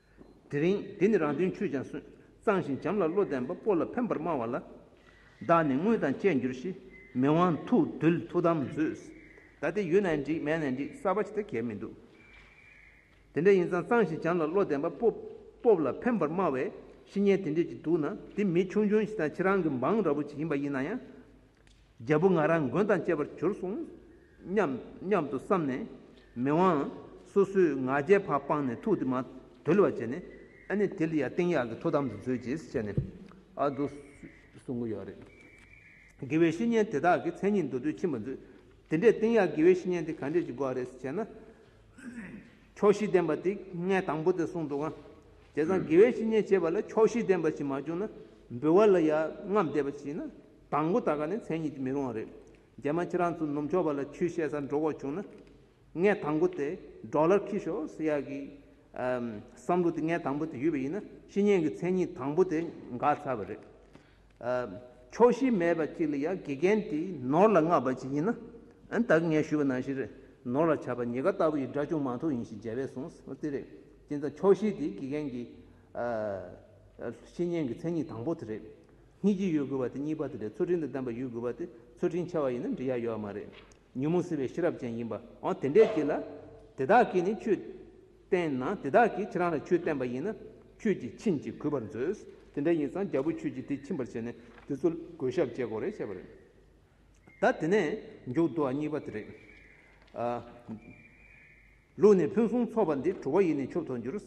S1: དེ་རིང་འདི་ནི་རང་དོན་ཆུད་ཅིང་སོན་གཙང་ཞིང་བྱམས་ལ་བློ་ལྡན་པ་པོ་ལ་ཕན་པར་སྨྲ་བ་ལ། བདག་ནི་དངུལ་དང་བཅས་འགྱུར་ཞེས་མི་དབང་ཐུགས་རྡུལ་ཐུགས་དམ་མཛོད། ད་ལྟའི་ཡུལ་ན་འགྲིག་མལ་ན་འགྲིག་གསར་བ་ཇི་ལྟར་གལ་མི་འདུག། དེ་འདྲ་ཡིན་ཙང་གཙང་ཞིང་བྱམས་ལ་བློ་ལྡན་པ་པོ་པོ་ལ་ཕན་པར་སྨྲ་བའི་གཤིས་ངན་དེ་འདྲས་ཀྱིས་འདུག་ན་འདི་མི་ཆུང་ཆུང་ཞིག་དང་ཁྱེད་རང་གི་འབངས་ར་བུ་ཅིག་ཡིན་པ་ཡིན་ན་ཡང། རྒྱལ་པོ་ང་རང་མགོན་དང་བཅས་པར་གྱུར་གསུང་སྙམ་སྙམ་དུ་བསམས་ནས། མི་དབང། སོ་སོའི་ང་རྒྱལ་བག་སྤངས་ནས་ཐུགས་དེ་མ་དུལ་བར་བྱས་ནས། ཨ་ནི་དེ་ལ་ཡང་སྟེང་གཡག་གི་ཐུགས་དམ་དུ་མཛོད་ཅེས་བྱས་ནས། ཨ་འདུག། གསུང་གི་ཡོད་རེད། དགེ་བའི་བཤེས་གཉེན་དེ་དག་གི་མཚན་ཉིད་མདོ་སྟོད་ཕྱིན་པར་མཛོད། དེ་འདྲའི་སྟེང་གཡག་དགེ་བའི་བཤེས་གཉེན་དེ་ག་འདྲས་ཀྱི་སྒོ་རེད་ཅེ་ན། ཕྱོགས་བཞི་ལྡན་པ་དེ་སྔའི་དང་པོ་དེ་གསུངས་འདུག་ང། དེ་སང་དགེ་བའི་བཤེས་གཉེན་བྱེད་པ་ལ་ཕྱོགས་བཞི་ལྡན་པ་ཞིག་མ་བྱུང་ན། འབུལ་བ་ལ་ཡང་སྔར་འདས་པ་བྱས་ན་དང་པོ་ད་ག་ནི་མཚན་ཉིད་ཀྱིས་མི་རུང་བ་རེད། རྒྱ་མ་ཁྱེད་རང་ཚོ་ནུབ་ཕྱོགས་པ་ལ་ཆུས་བཤད་ས་འགྲོ་དགོས་བྱུང་ན། ངས་དང་པོ་དེ་སྒྲོག་ལར་ཁིས་ཤོ་སི་ཡ་གི། བསམ་བློ་དེ་ངས་དང་པོ་དེ་ཡོད་པ་ཡིན་ན་བཤེས་གཉེན་གྱི་མཚན་ཉིད་དང་པོ་དེ་འགག་ཚར་བ་རེད། ཕྱོགས་བཞི་མེད་པ་ཅིག་ལ་ཡང་དགེ་རྒན་དེ་ནོར་ལ་མངགས་པ་ཅིག་ཡིན་ན། ད་ག་ངས་ཞུས་པ་ནང་བཞིན་རེད། ནོར་ལ་ཆགས་པ་ཉེ་དགའ་ལྟ་བུ་ཡི་དགྲ་ཅུང་མང་ཐུག་ཡིན་ཞེས་རྒྱལ་བས་གསུངས་ཨོ་དེ་རེད། དེ་ཚ་ཕྱོགས་བཞི་དེ་དགེ་རྒན་གྱི། བཤེས་གཉེན་གྱི་མཚན་ཉིད་དང་པོ་དེ་རེད། གཉིས་ཀྱི་ཡོད་དགོས་པ་དེ་གཉིས་པ་དེ་འདྲའི་ཚུལ་ཁྲིམས་དང་ལྡན་པ་ཡོད་དགོས་པ་དེ་ཚུལ་ཁྲིམས་འཆལ་བ་ཡིན་ན་འདྲི་ཡ་ཡོད་མ་རེད། ཉོན་མོངས་སེལ་བའི་ཤེས་རབ་ཅན་ཡིན་པ་འང་དེ་འདྲས་ཀྱི་ལ། དེ་དག་གིས་ནི་ཆོས་བསྟན་ན་དེ་དག་གིས་ཁྱེད་རང་ལ་ཆོས་བསྟན་པ་ཡིན་ན་ཁྱོད་ཀྱིས་ཕྱིན་ཅི་གུས་པར་མཛོད། དེ་འདྲ་ཡིན་ཙང་རྒྱལ་པོ་ཁྱོད་ཀྱིས་དེ་ཕྱིན་པར་བྱས་ནས་དེ་ཚོ་གོས་ཞབས་བཅད་དགོས་རེད་བྱས་པ་རེད། ད་དེ་ནས་མཇུག་བསྡུ་བ་གཉིས་པ་དེ་རེད། ལུགས་ནི་ཕུན་སུམ་ཚོགས་པ་འདི་གྲུབ་བ་ཡི་ནི་ཆུབ་ཐོབ་འགྱུར།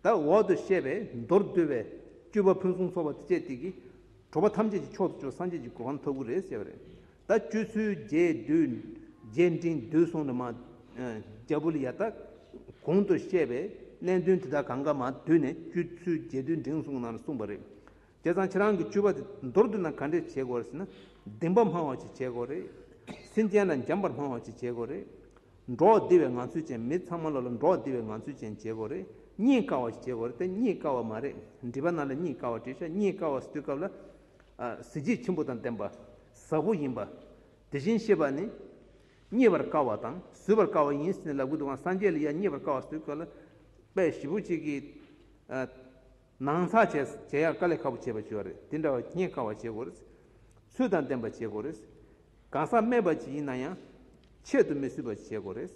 S1: དང་འོག་ཏུ་བཤད་པའི་མདོར་བསྡུས་པའི་སྤྲུལ་པ་ཕུན་སུམ་ཚོགས་པ་སྤྱད་དེ་གིས་གྲུབ་པ་ཐམས་ཅད་ཀྱི་མཆོག་ཏུ་གྱུར་སངས་རྒྱས་ཀྱི་གོ་ཁམས་ཐོབ་གི་རེད་ཟེར་བ་རེད། ད་སྤྱོད་ཚུལ་རྒྱས་བསྡུས་རྒྱས་འབྲིང་བསྡུས་གསུང་རེ་མ། རྒྱ་བུ་ལ་ཡ་ད། གོང་དུ་བཤད་པའི་གནད་དོན་དེ་དག་གང་ག་མ་བསྡུས་ནས་སྤྱོད་ཚུལ་རྒྱས་བསྡུས་འབྲིང་གསུང་ནང་ལ་གསུངས་པ་རེད། དེ་ཚང་ཁྱེད་རང་གི་སྤྱོད་པ་དེ་མདོར་བསྡུས་ན་ག་འདྲས་བྱེད་དགོས་རེད་ཟེར་ན། བདེན་པ་སྨྲ་བ་ཞིག་བྱེད་དགོས་རེད། སེམས་ཅན་ལ་འཇམ་པར་སྨྲ་བ་ཞིག་བྱེད་དགོས་རེད། འགྲོགས་བདེ་བའི་ངང་ཚུལ་ཅན་མི་ཚང་མ་ལ་ལ་འགྲོགས་བདེ་བའི་ངང་ཚུལ་ཅན་བྱེད་དགོས་རེད། རྙེད་དཀའ་བ་ཞིག་བྱེད་དགོས་རེད་དེ་རྙེད་དཀའ་བ་མ་རེད། འདྲིས་པ་རྣམས་ལ་རྙེད་དཀའ་བ་བྲིས་ཤག་རྙེད་དཀའ་བ་ཟེར་དུས་སྐབས་ལ། གཟི་བརྗིད་ཆེན་པོ་དང་ལྡན་པ། ཟབ་བོ་ཡིན་པ། དེ་བཞིན་གཤེགས་པ་ནི། རྙེད་པར་དཀའ་བ་དང་བཟོད་པར་དཀའ་བ་ཡིན་ཟེར་ནས་ལབ་གི་འདུག་ཨང་སངས་རྒྱས་ལ་ཡང་རྙེད་པར་དཀའ་བ་ཟེར་དུས་སྐབས་ལ། དཔེ་བཞི་བོ་གཅིག་གིས། ནང་ཚགས་བྱས་སོ་བྱས་ཡག་དཀའ་ལས་ཁ་པོ་བྱས་པ་བྱོས་རེད་དེ་འདྲ་བ་སྙད་དཀའ་བ་བྱེད་དགོས་རེད། ཚུལ་དང་ལྡན་པ་བྱེད་དགོས་རེད། གང་ཟག་སྨད་པ་ཅིག་ཡིན་ན་ཡང། ཆེད་དུ་མི་བསུས་པ་བྱེད་དགོས་རེད།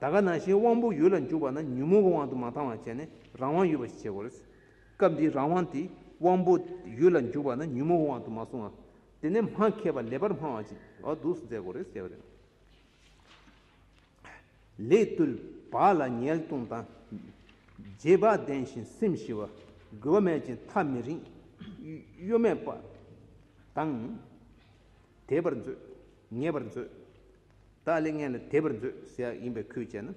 S1: ད་ག་ནང་བཞིན་དབང་པོ་ཡུལ་ལ་འཇུག་པ་ན་ཉོན་མོངས་ཀྱི་དབང་དུ་མ་འཐང་བ་བྱས་ནས་རང་དབང་ཡོད་པ་ཞིག་བྱེད་དགོས་རེད། སྐབས་འདིའི་རང་དབང་དེ་དབང་པོ་ཡུལ་ལ་འཇུག་པ་ན་ཉོན་མོངས་ཀྱི་དབང་དུ་མ་སོང་བ། དེ་ནས་སྨྲ་མཁས་པ་ལེ་བར་སྨྲ་བ་ཅིག་འོ་འདུག་མཛད་དགོས་རེད་ཟེར་བ་རེད། ལས་བཏུལ་བ་ལ་ཉེས་ལྟུང་དང། རྗེས་དཔག་ལྡན་ཞིང་སེམས་ཞི་བ། རྒོལ་བ་མེད་ཅིང་མཐའ་མི་རིང། གཡོ་མེད་པ་དང། དད་པར་མཛོད། ངེས་པར་མཛོད། དག་ལས་ངན་ལ་དད་པར་མཛོད་ཟེར་བ་ཡིན་པས་ཁུལ་བྱས་ན།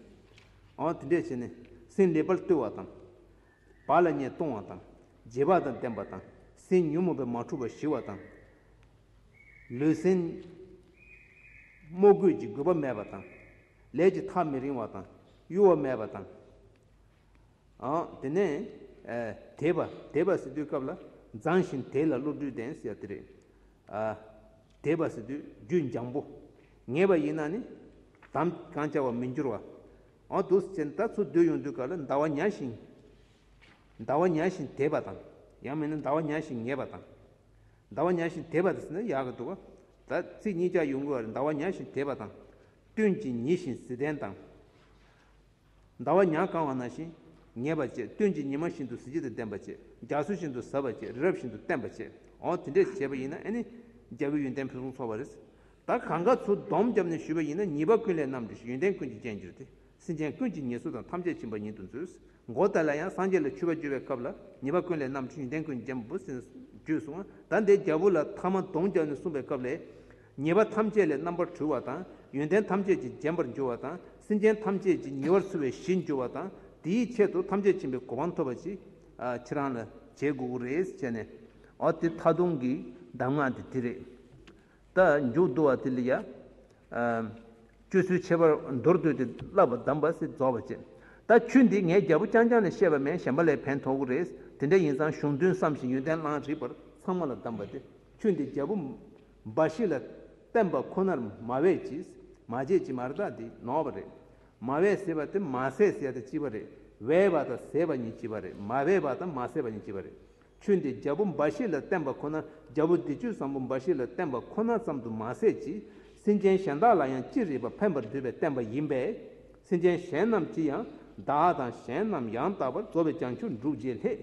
S1: འོ་དེ་འདྲས་བྱས་ནས་སེམས་ལེགས་པར་བཏུལ་བ་དང། བ་ལ་ཉེས་ལྟུང་བ་དང། རྗེས་དཔག་དང་ལྡན་པ་དང། སེམས་ཉོན་མོངས་པའི་མ་འཁྲུལ་བ་ཞི་བ་དང། ལུས་སེམས་རྨོ་རྒུད་ཀྱི་དགོས་པ་མེད་པ་དང། ལས་ཀྱི་ཐག་མི་རིང་བ་དང། གཡོ་བ་མེད་པ་དང། དེ་ནས། དེས་པ་དེས་པ་ཟེར་དུས་སྐབས་ལ་བརྫངས་ཤིང་དེས་ལ་བློ་གྲོས་ལྡན་ཟེར་དེ་རེད། དེས་པ་ཟེར་དུས་རྒྱུད་འཇམ་པོ། ངེས་པ་ཡིན་ན་ནི། དམ་གང་བཅའ་བར་མི་འགྱུར་བ། དུ་སེམས་ལྟ་ཚུར་སྡོད་ཡོང་དུས་སྐབས་ལ་འདའ་བ་ཉག་ཞིང། འདའ་བ་ཉག་ཞིང་དེས་པ་དང། ཡང་མིན་ན་འདའ་བ་ཉག་ཞིང་ངེས་པ་དང། ཟླ་བ་ཉའ་ཞིང་དེད་པ་དང་ཟེར་ན་ཡག་གི་འདུག་ད་ཚིག་གཉིས་ཀྱག་ཡོང་གི་བར་ཟླ་བ་ཉའ་ཞིང་དེད་པ་དང། སྟོན་གྱི་ཉི་བཞིན་གཟི་ལྡན་དང། ཟླ་བ་ཉའ་གང་བ་ན་ཞིང་ངེས་པ་བཅས་སྟོན་གྱི་ཉི་མ་བཞིན་དུ་གཟི་བརྗིད་དང་ལྡན་པ་བཅས་རྒྱ་མཚོ་བཞིན་དུ་ཟབ་པ་བཅས་རི་རབ་བཞིན་དུ་བརྟན་པ་བཅས་འོ་དེ་འདྲས་བྱས་པ་ཡིན་ན་ཨེ་ནི་རྒྱལ་པོའི་ཡོན་ཏན་ཕུན་སུམ་ཚོགས་པ་རེད། ད་གང་ག་ཚོ་སྡོམ་བརྒྱབ་ནས་ཞུས་པ་ཡིན་ན་ཉིད་པ་ཀུན་ལས་རྣམས་འདྲི་ཞིག་ཡོན་ཏན་ཀུན་གྱི་རྒྱན་གྱུར་ཏེ་སེམས་ཅན་ཀུན་གྱི་ཉེས་གསོ་དང་ཐམས་ཅད་བྱིན་པ་ཉིད་དུ་མཛོད། མགོ་དེ་ལ་ཡང་སངས་རྒྱས་ལ་ཆུད་པ་བརྒྱུད་པའི་སྐབས་ལ་ཉེས་པ་ཀུན་ལས་རྣམས་ཀྱི་ཡོན་ཏན་ཀུན་འཇམ་པོ་ཟིན་རྒྱུད་གསུངས། ད་འདས་རྒྱལ་པོ་ལ་ཐ་མ་གདོང་བརྒྱག་ནས་གསུངས་པའི་སྐབས་ལས། ཉེས་པ་ཐམས་ཅད་ལས་རྣམ་པར་གྲོལ་བ་དང་ཡོན་ཏན་ཐམས་ཅད་ཀྱིས་འཇམ་པར་འགྱུར་བ་དང་སེམས་ཅན་ཐམས་ཅད་ཀྱི་ཉེ་བར་འཚོ་བའི་གཞི་འགྱུར་བ་དང་དེའི་ཆེད་དུ་ཐམས་ཅད་མཁྱེན་པའི་གོ་འཕང་ཐོབ་པ་ཅིའི་ཕྱིར་རང་ལ་བྱེད་དགོས་རེད་བྱས་ནས། འོ་དེ་ད་དུང་གི་གདམས་ངག་དེ་དེ་རེད། ལྟ། མཇུག་བསྡུ་བ་དེ་ལ་ཡང། སྤྱོད་ཚུལ་ཁྱད་པར་མདོར་བསྡུས་ཏེ་བསླབ་པ་གདམས་པ་སྲིད་རྫོགས་པ་ཅན། ད་ཁྱོད་འདི་ངའི་རྒྱལ་པོ་རྐྱང་རྐྱང་ལས་བཤད་པ་མན་གཞན་པ་ལས་ཕན་ཐོག་གི་རེད། དེ་འདྲ་ཡིན་ཙང་གཞུང་དོན་བསམ་ཞིང་ཡོན་ཏན་བླངས་རིགས་པར་ཚང་མ་ལ་གདམས་པ་དེ་ཁྱོད་འདི་རྒྱལ་པོ་འབའ་ཞིག་ལ་བསྟན་པ་ཁོ་ནར་མ་བས་ཅིས་མ་བྱས་ཀྱི་མར་དག་འདི་ནོར་བ་རེད། མ་བས་ཟེར་བ་དེ་མ་ཟས་ཟས་དང་ལྕི་བ་རེད། བས་པ་དང་ཟས་པ་གཉིས་ལྕི་བ་རེད་མ་བས་པ་དང་མ་ཟས་པ་གཉིས་ལྕི་བ་རེད། ཆོས་འདི་རྒྱལ་པོ་འབའ་ཞིག་ལ་བསྟན་པ་ཁོ་ན་རྒྱལ་པོ་འདི་ཆོས་བཟང་པོ་འབའ་ཞིག་ལ་བསྟན་པ་ཁོ་ན་ཙམ་དུ་མ་ཟད་ཀྱི། སེམས་ཅན་གཞན་དག་ལ་ཡང་ཅི་རིགས་པ་ཕན་པར་འདོད་པས་བསྟན་པ་ཡིན་པས། སེམས་ཅན་གཞན་རྣམས་ཀྱིས་ཡང་དག་དང་གཞན་རྣམས་ཡང་དག་པར་རྫོགས་པའི་བྱང་ཆུབ་འགྲུབ་བྱེད་ལྷས།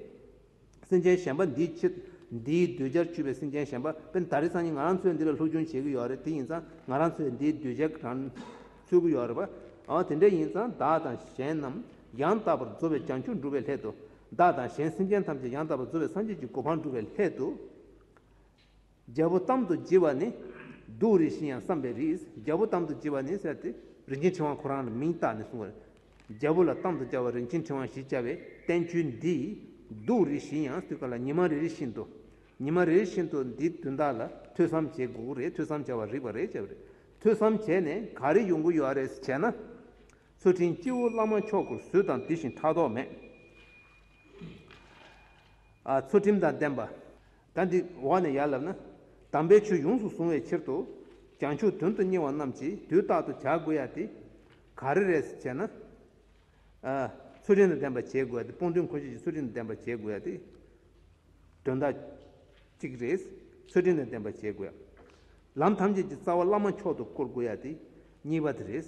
S1: སེམས་ཅན་གཞན་པ་འདིའི་ཕྱིར། འདིའི་གདུལ་བྱར་ཆུད་པའི་སེམས་ཅན་གཞན་པ་དཔེར་ན་ད་རེས་སང་ཉིན་ང་རང་ཚོས་འདི་ལ་ལྷུག་རྒྱུན་བྱེད་ཀྱི་ཡོད་རེད་དེ་ཡིན་ཙང་ང་རང་ཚོས་འདིའི་གདུལ་བྱ་གང་འཚོལ་གྱི་ཡོད་རེད་པ། འོ་དེ་འདྲ་ཡིན་ཙང་བདག་དང་གཞན་རྣམས་ཡང་དག་པར་རྫོགས་པའི་བྱང་ཆུབ་འགྲུབ་པའི་སླད་དུ། བདག་དང་གཞན་སེམས་ཅན་ཐམས་ཅད་ཡང་དག་པར་རྫོགས་པའི་སངས་རྒྱས་ཀྱི་གོ་འཕང་བསྒྲུབ་པའི་སླད་དུ། རྒྱལ་པོ་གཏམ་དུ་བགྱི་བ་ནི། གདུགས་རིགས་བཞི་ཡང་བསམས་པའི་རིགས། རྒྱལ་པོ་གཏམ་དུ་བགྱི་བ་ནི་ཟེར་ཏེ། རིན་ཆེན་ཕྲེང་བ་ཁོ་རང་ལ་མིང་བཏགས་ནས་གསུངས་པ། རྒྱལ་པོ་ལ་གཏམ་དུ་བཅའ་བ་རིན་ཆེན་ཕྲེང་བ་བཞི་བཅའ་བའི་བསྟན་བཅོས་འདི། གདུགས་རིགས་བཞི་ཡང་སུས་བཀག་ལ་ཉི་མ་རེ་རེ་བཞིན་དུ། ཉི་མ་རེ་རེ་བཞིན་དུ་འདི་དོན་དག་ལ་ཐོས་བསམ་བྱེད་དགོས་ཀྱི་རེད་ཐོས་བསམ་བྱ་བར་རིགས་པ་རེ་བྱ་བ་རེད། ཐོས་བསམ་བྱས་ནས་ག་རེ་ཡོང་གི་ཡོད་ཨ་རེ་བྱས་ན། ཚུལ་ཁྲིམས་སྤྱི་བོ་བླ་མ་མཆོག་སྐུར་གཟུད་དང་འདི་བཞིན་ཕྲག་དོག་མེད། ཚུལ་ཁྲིམས་དང་ལྡན་པ། བདག་འདི་འོག་ནས་ཡར་ལབ་ན། དམ་པའི་ཆོས་ཡོངས་སུ་གཟུང་བའི་ཕྱིར་དུ། བྱང་ཆུབ་དོན་དུ་གཉེར་བ་རྣམས་ཀྱིས་དུས་རྟག་ཏུ་བྱ་དགོས་ཡ་སྟེ། ག་རེ་རེད་ཅེ་ན། ཚུལ་ཁྲིམས་དང་ལྡན་པ་བྱེད་དགོས་ཡ་སྟེ་སྤོང་ཐུན་འཁོར་བཅས་ཀྱི་ཚུལ་ཁྲིམས་དང་ལྡན་པ་བྱེད་དགོས་ཡ་སྟེ། དོན་དག་གཅིག་རེད། ཚུལ་ཁྲིམས་དང་ལྡན་པ་བྱེད་དགོས་ཡ། ལམ་ཐམས་ཅད་ཀྱི་རྩ་བ་བླ་མ་མཆོག་ཏུ་བསྐོར་དགོས་ཡ་སྟེ། གཉིས་པ་དེ་རེད།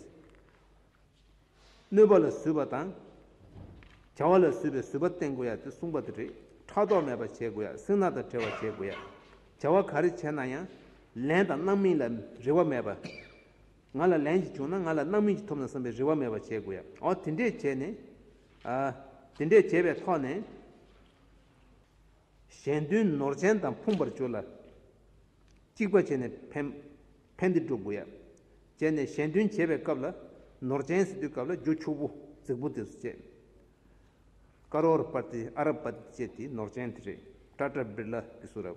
S1: གནོད་པ་ལ་བཟོད་པ་དང། བྱ་བ་ལ་བཟོད་པའི་བཟོད་པ་བསྟེན་དགོས་ཡ་དེ་གསུངས་པ་དེ་རེད་ཕྲག་དོག་མེད་པར་བྱེད་དགོས་ཡ་སེང་ནག་དང་བྲལ་བར་བྱེད་དགོས་ཡ། བྱ་བ་ག་རེ་བྱས་ན་ཡང། ལན་དང་རྣམ་སྨིན་ལ་རེ་བ་མེད་པར། ང་ལ་ལན་ཞིག་བྱུང་ན་ང་ལ་རྣམ་སྨིན་ཞིག་ཐོབ་ན་བསམ་པའི་རེ་བ་མེད་པར་བྱེད་དགོས་ཡ། འོ་དེ་འདྲས་བྱས་ནས། དེ་འདྲས་བྱས་པའི་ཐོག་ནས། གཞན་དོན་ནོར་ཅན་དང་ཕུང་བར་གྱུར་ལ། གཅིག་པ་བྱས་ནས་ཕན། ཕན་བདེ་སྒྲུབ་དགོས། བྱས་ནས་གཞན་དོན་བྱེད་པའི་སྐབས་ལ། ནོར་ཅན་ཟེར་དུས་སྐབས་ལ་རྒྱུ་ཕྱུག་པོ་རྫིག་པོ་དེ་སུ་བྱེད། ཀ་རོ་ར་པར་ཏི་ཨ་རབ་པ་ཏི་བཅས་དེ་ནོར་ཅན་དེ་རེད་ཀྲ་ཀྲ་བིར་ལ་དེ་སུ་རབ།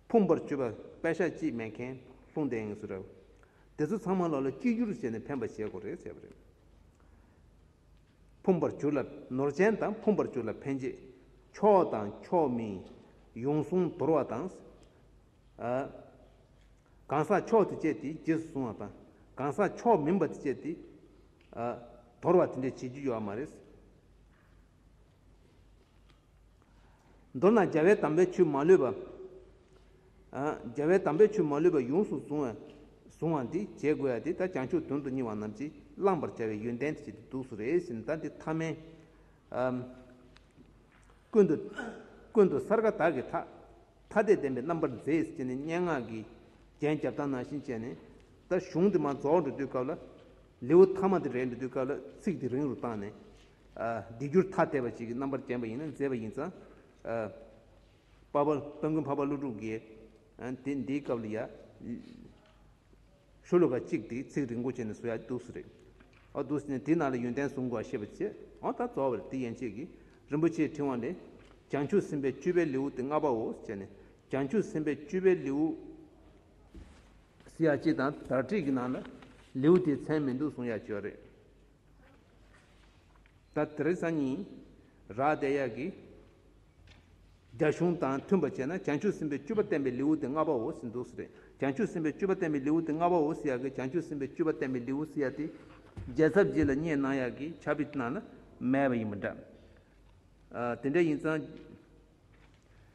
S1: ཕུང་པར་བཅུ་པ་དཔལ་ཤ་གཅིག་མེད་མཁན་ལྷུང་བསྟན་ངེད་སུ་རབ། དེ་ཚོ་ཚང་མ་ལོ་ལ་གཅིག་གྱུར་བྱས་ནས་ཕན་པ་བྱེད་དགོས་རེད་བྱས་པ་རེད། ཕུང་པར་གྱུར་ལ་ནོར་ཅན་དང་ཕུང་པར་གྱུར་ལ་ཕན་བྱེད། ཕྱོགས་དང་ཕྱོགས་མིན། ཡོངས་བཟུང་དོར་བ་དང། གང་ཟག་མཆོག་དེ་སྤྱད་དེ་རྗེས་སུ་བཟུང་བ་དང། གང་ཟག་མཆོག་མིན་པ་དེ་སྤྱད་དེ། དོར་བ་དེ་འདྲས་བྱེད་རྒྱུ་ཡོད་བ་མ་རེད། མདོར་ན་རྒྱལ་བའི་དམ་པའི་ཆོས་མ་ལུས་པ། རྒྱལ་བའི་དམ་པའི་ཆོས་མ་ལུས་པ་ཡོངས་སུ་བཟུང་བ་འདི་བྱེད་དགོས་ཡ་དེ་ད་བྱང་ཆུབ་དོན་དུ་སྙིང་བ་རྣམས་ཀྱིས་བླང་བར་བྱ་བའི་ཡོན་ཏན་དེ་བྱེད་དེ་འདུག་སུ་རེ་ཞིག་ན་ད་འདི་ཐ་མལ། ཀུན་ཏུ་སརྒ་དག་གི་ཐག། ཐ་དད་བདེན་པའི་རྣམ་པར་མཛེས་ཞེས་ནི་སྙན་ངག་གི་རྒྱན་རྒྱབ་དང་ནང་བཞིན་བཅས་ནས། ད་གཞུང་དེ་མ་རྫོགས་འགྲོ་དུས་སྐབས་ལ། ལེའུ་མཐའ་མ་དེ་རེད་འགྲོ་དུས་སྐབས་ལ་ཚིག་དེ་རིང་རུ་བཏང་ནས། སྡིག་སྒྱུར་ཐ་དད་པ་ཞིག་གི་རྣམ་པར་བརྒྱན་པ་ཡིན་ན་མཛེས་པ་ཡིན་ཙང། དཔའ་མགོན་འཕགས་པ་ཀླུ་སྒྲུབ་རྒྱལ། དེ་འདིའི་སྐབས་ལ་ཡ། ཆོས་ལུགས་པ་གཅིག་དེས་ཚིག་རིང་པོ་བྱས་ནས་བཟོ་ཡག་འདུག་སུ་རེད། ཨ་འདུག་སེ་ན་དེའི་ནང་ལ་ཡོན་ཏན་བཟུང་དགོས་པ་ཤེས་པ་བྱས། ཨོ་ད་གཙོ་བོ་རེད་དེ་ཡན་ཆད་ཀྱིས་རིན་པོ་ཆེའི་ཕྲེང་བ་ལས། བྱང་ཆུབ་སེམས་དཔའི་སྤྱོད་པའི་ལེའུ་སྟེ་ལྔ་པའོ་བྱས་ནས་བྱང་ཆུབ་སེམས་དཔའི་སྤྱོད་པའི་ལེའུ། སེ་ཡག་གཅིག་དང་དག་བསྒྲིགས་ཀྱི་ནང་ལ་ལེའུ་དེའི་མཚན་མི་འདུག་གསུང་ཡག་བྱས་རེད། ད་དེར་སང་ཉིན་རག་བསྡད་ཡག་གི། རྒྱ་གཞུང་དང་མཐུན་པ་བྱས་ན་བྱང་ཆུབ་སེམས་དཔའི་བཅུ་པ་བསྟན་པའི་ལེའུ་སྟེ་ལྔ་པ་འོ་སི་འདུག་སི་རེད་བྱང་ཆུབ་སེམས་དཔའི་བཅུ་པ་བསྟན་པའི་ལེའུ་སྟེ་ལྔ་པ་འོ་སི་ཡག་གི་བྱང་ཆུབ་སེམས་དཔའི་བཅུ་པ་བསྟན་པའི་ལེའུ་སི་ཡག་དེ་རྒྱལ་ཚབ་རྗེས་ལ་བསྙད་གནང་ཡག་གི་བྱ་བི་ཏི་ནང་ན་མེད་པ་ཡིན་པ་འདྲ། དེ་འདྲ་ཡིན་ཙང།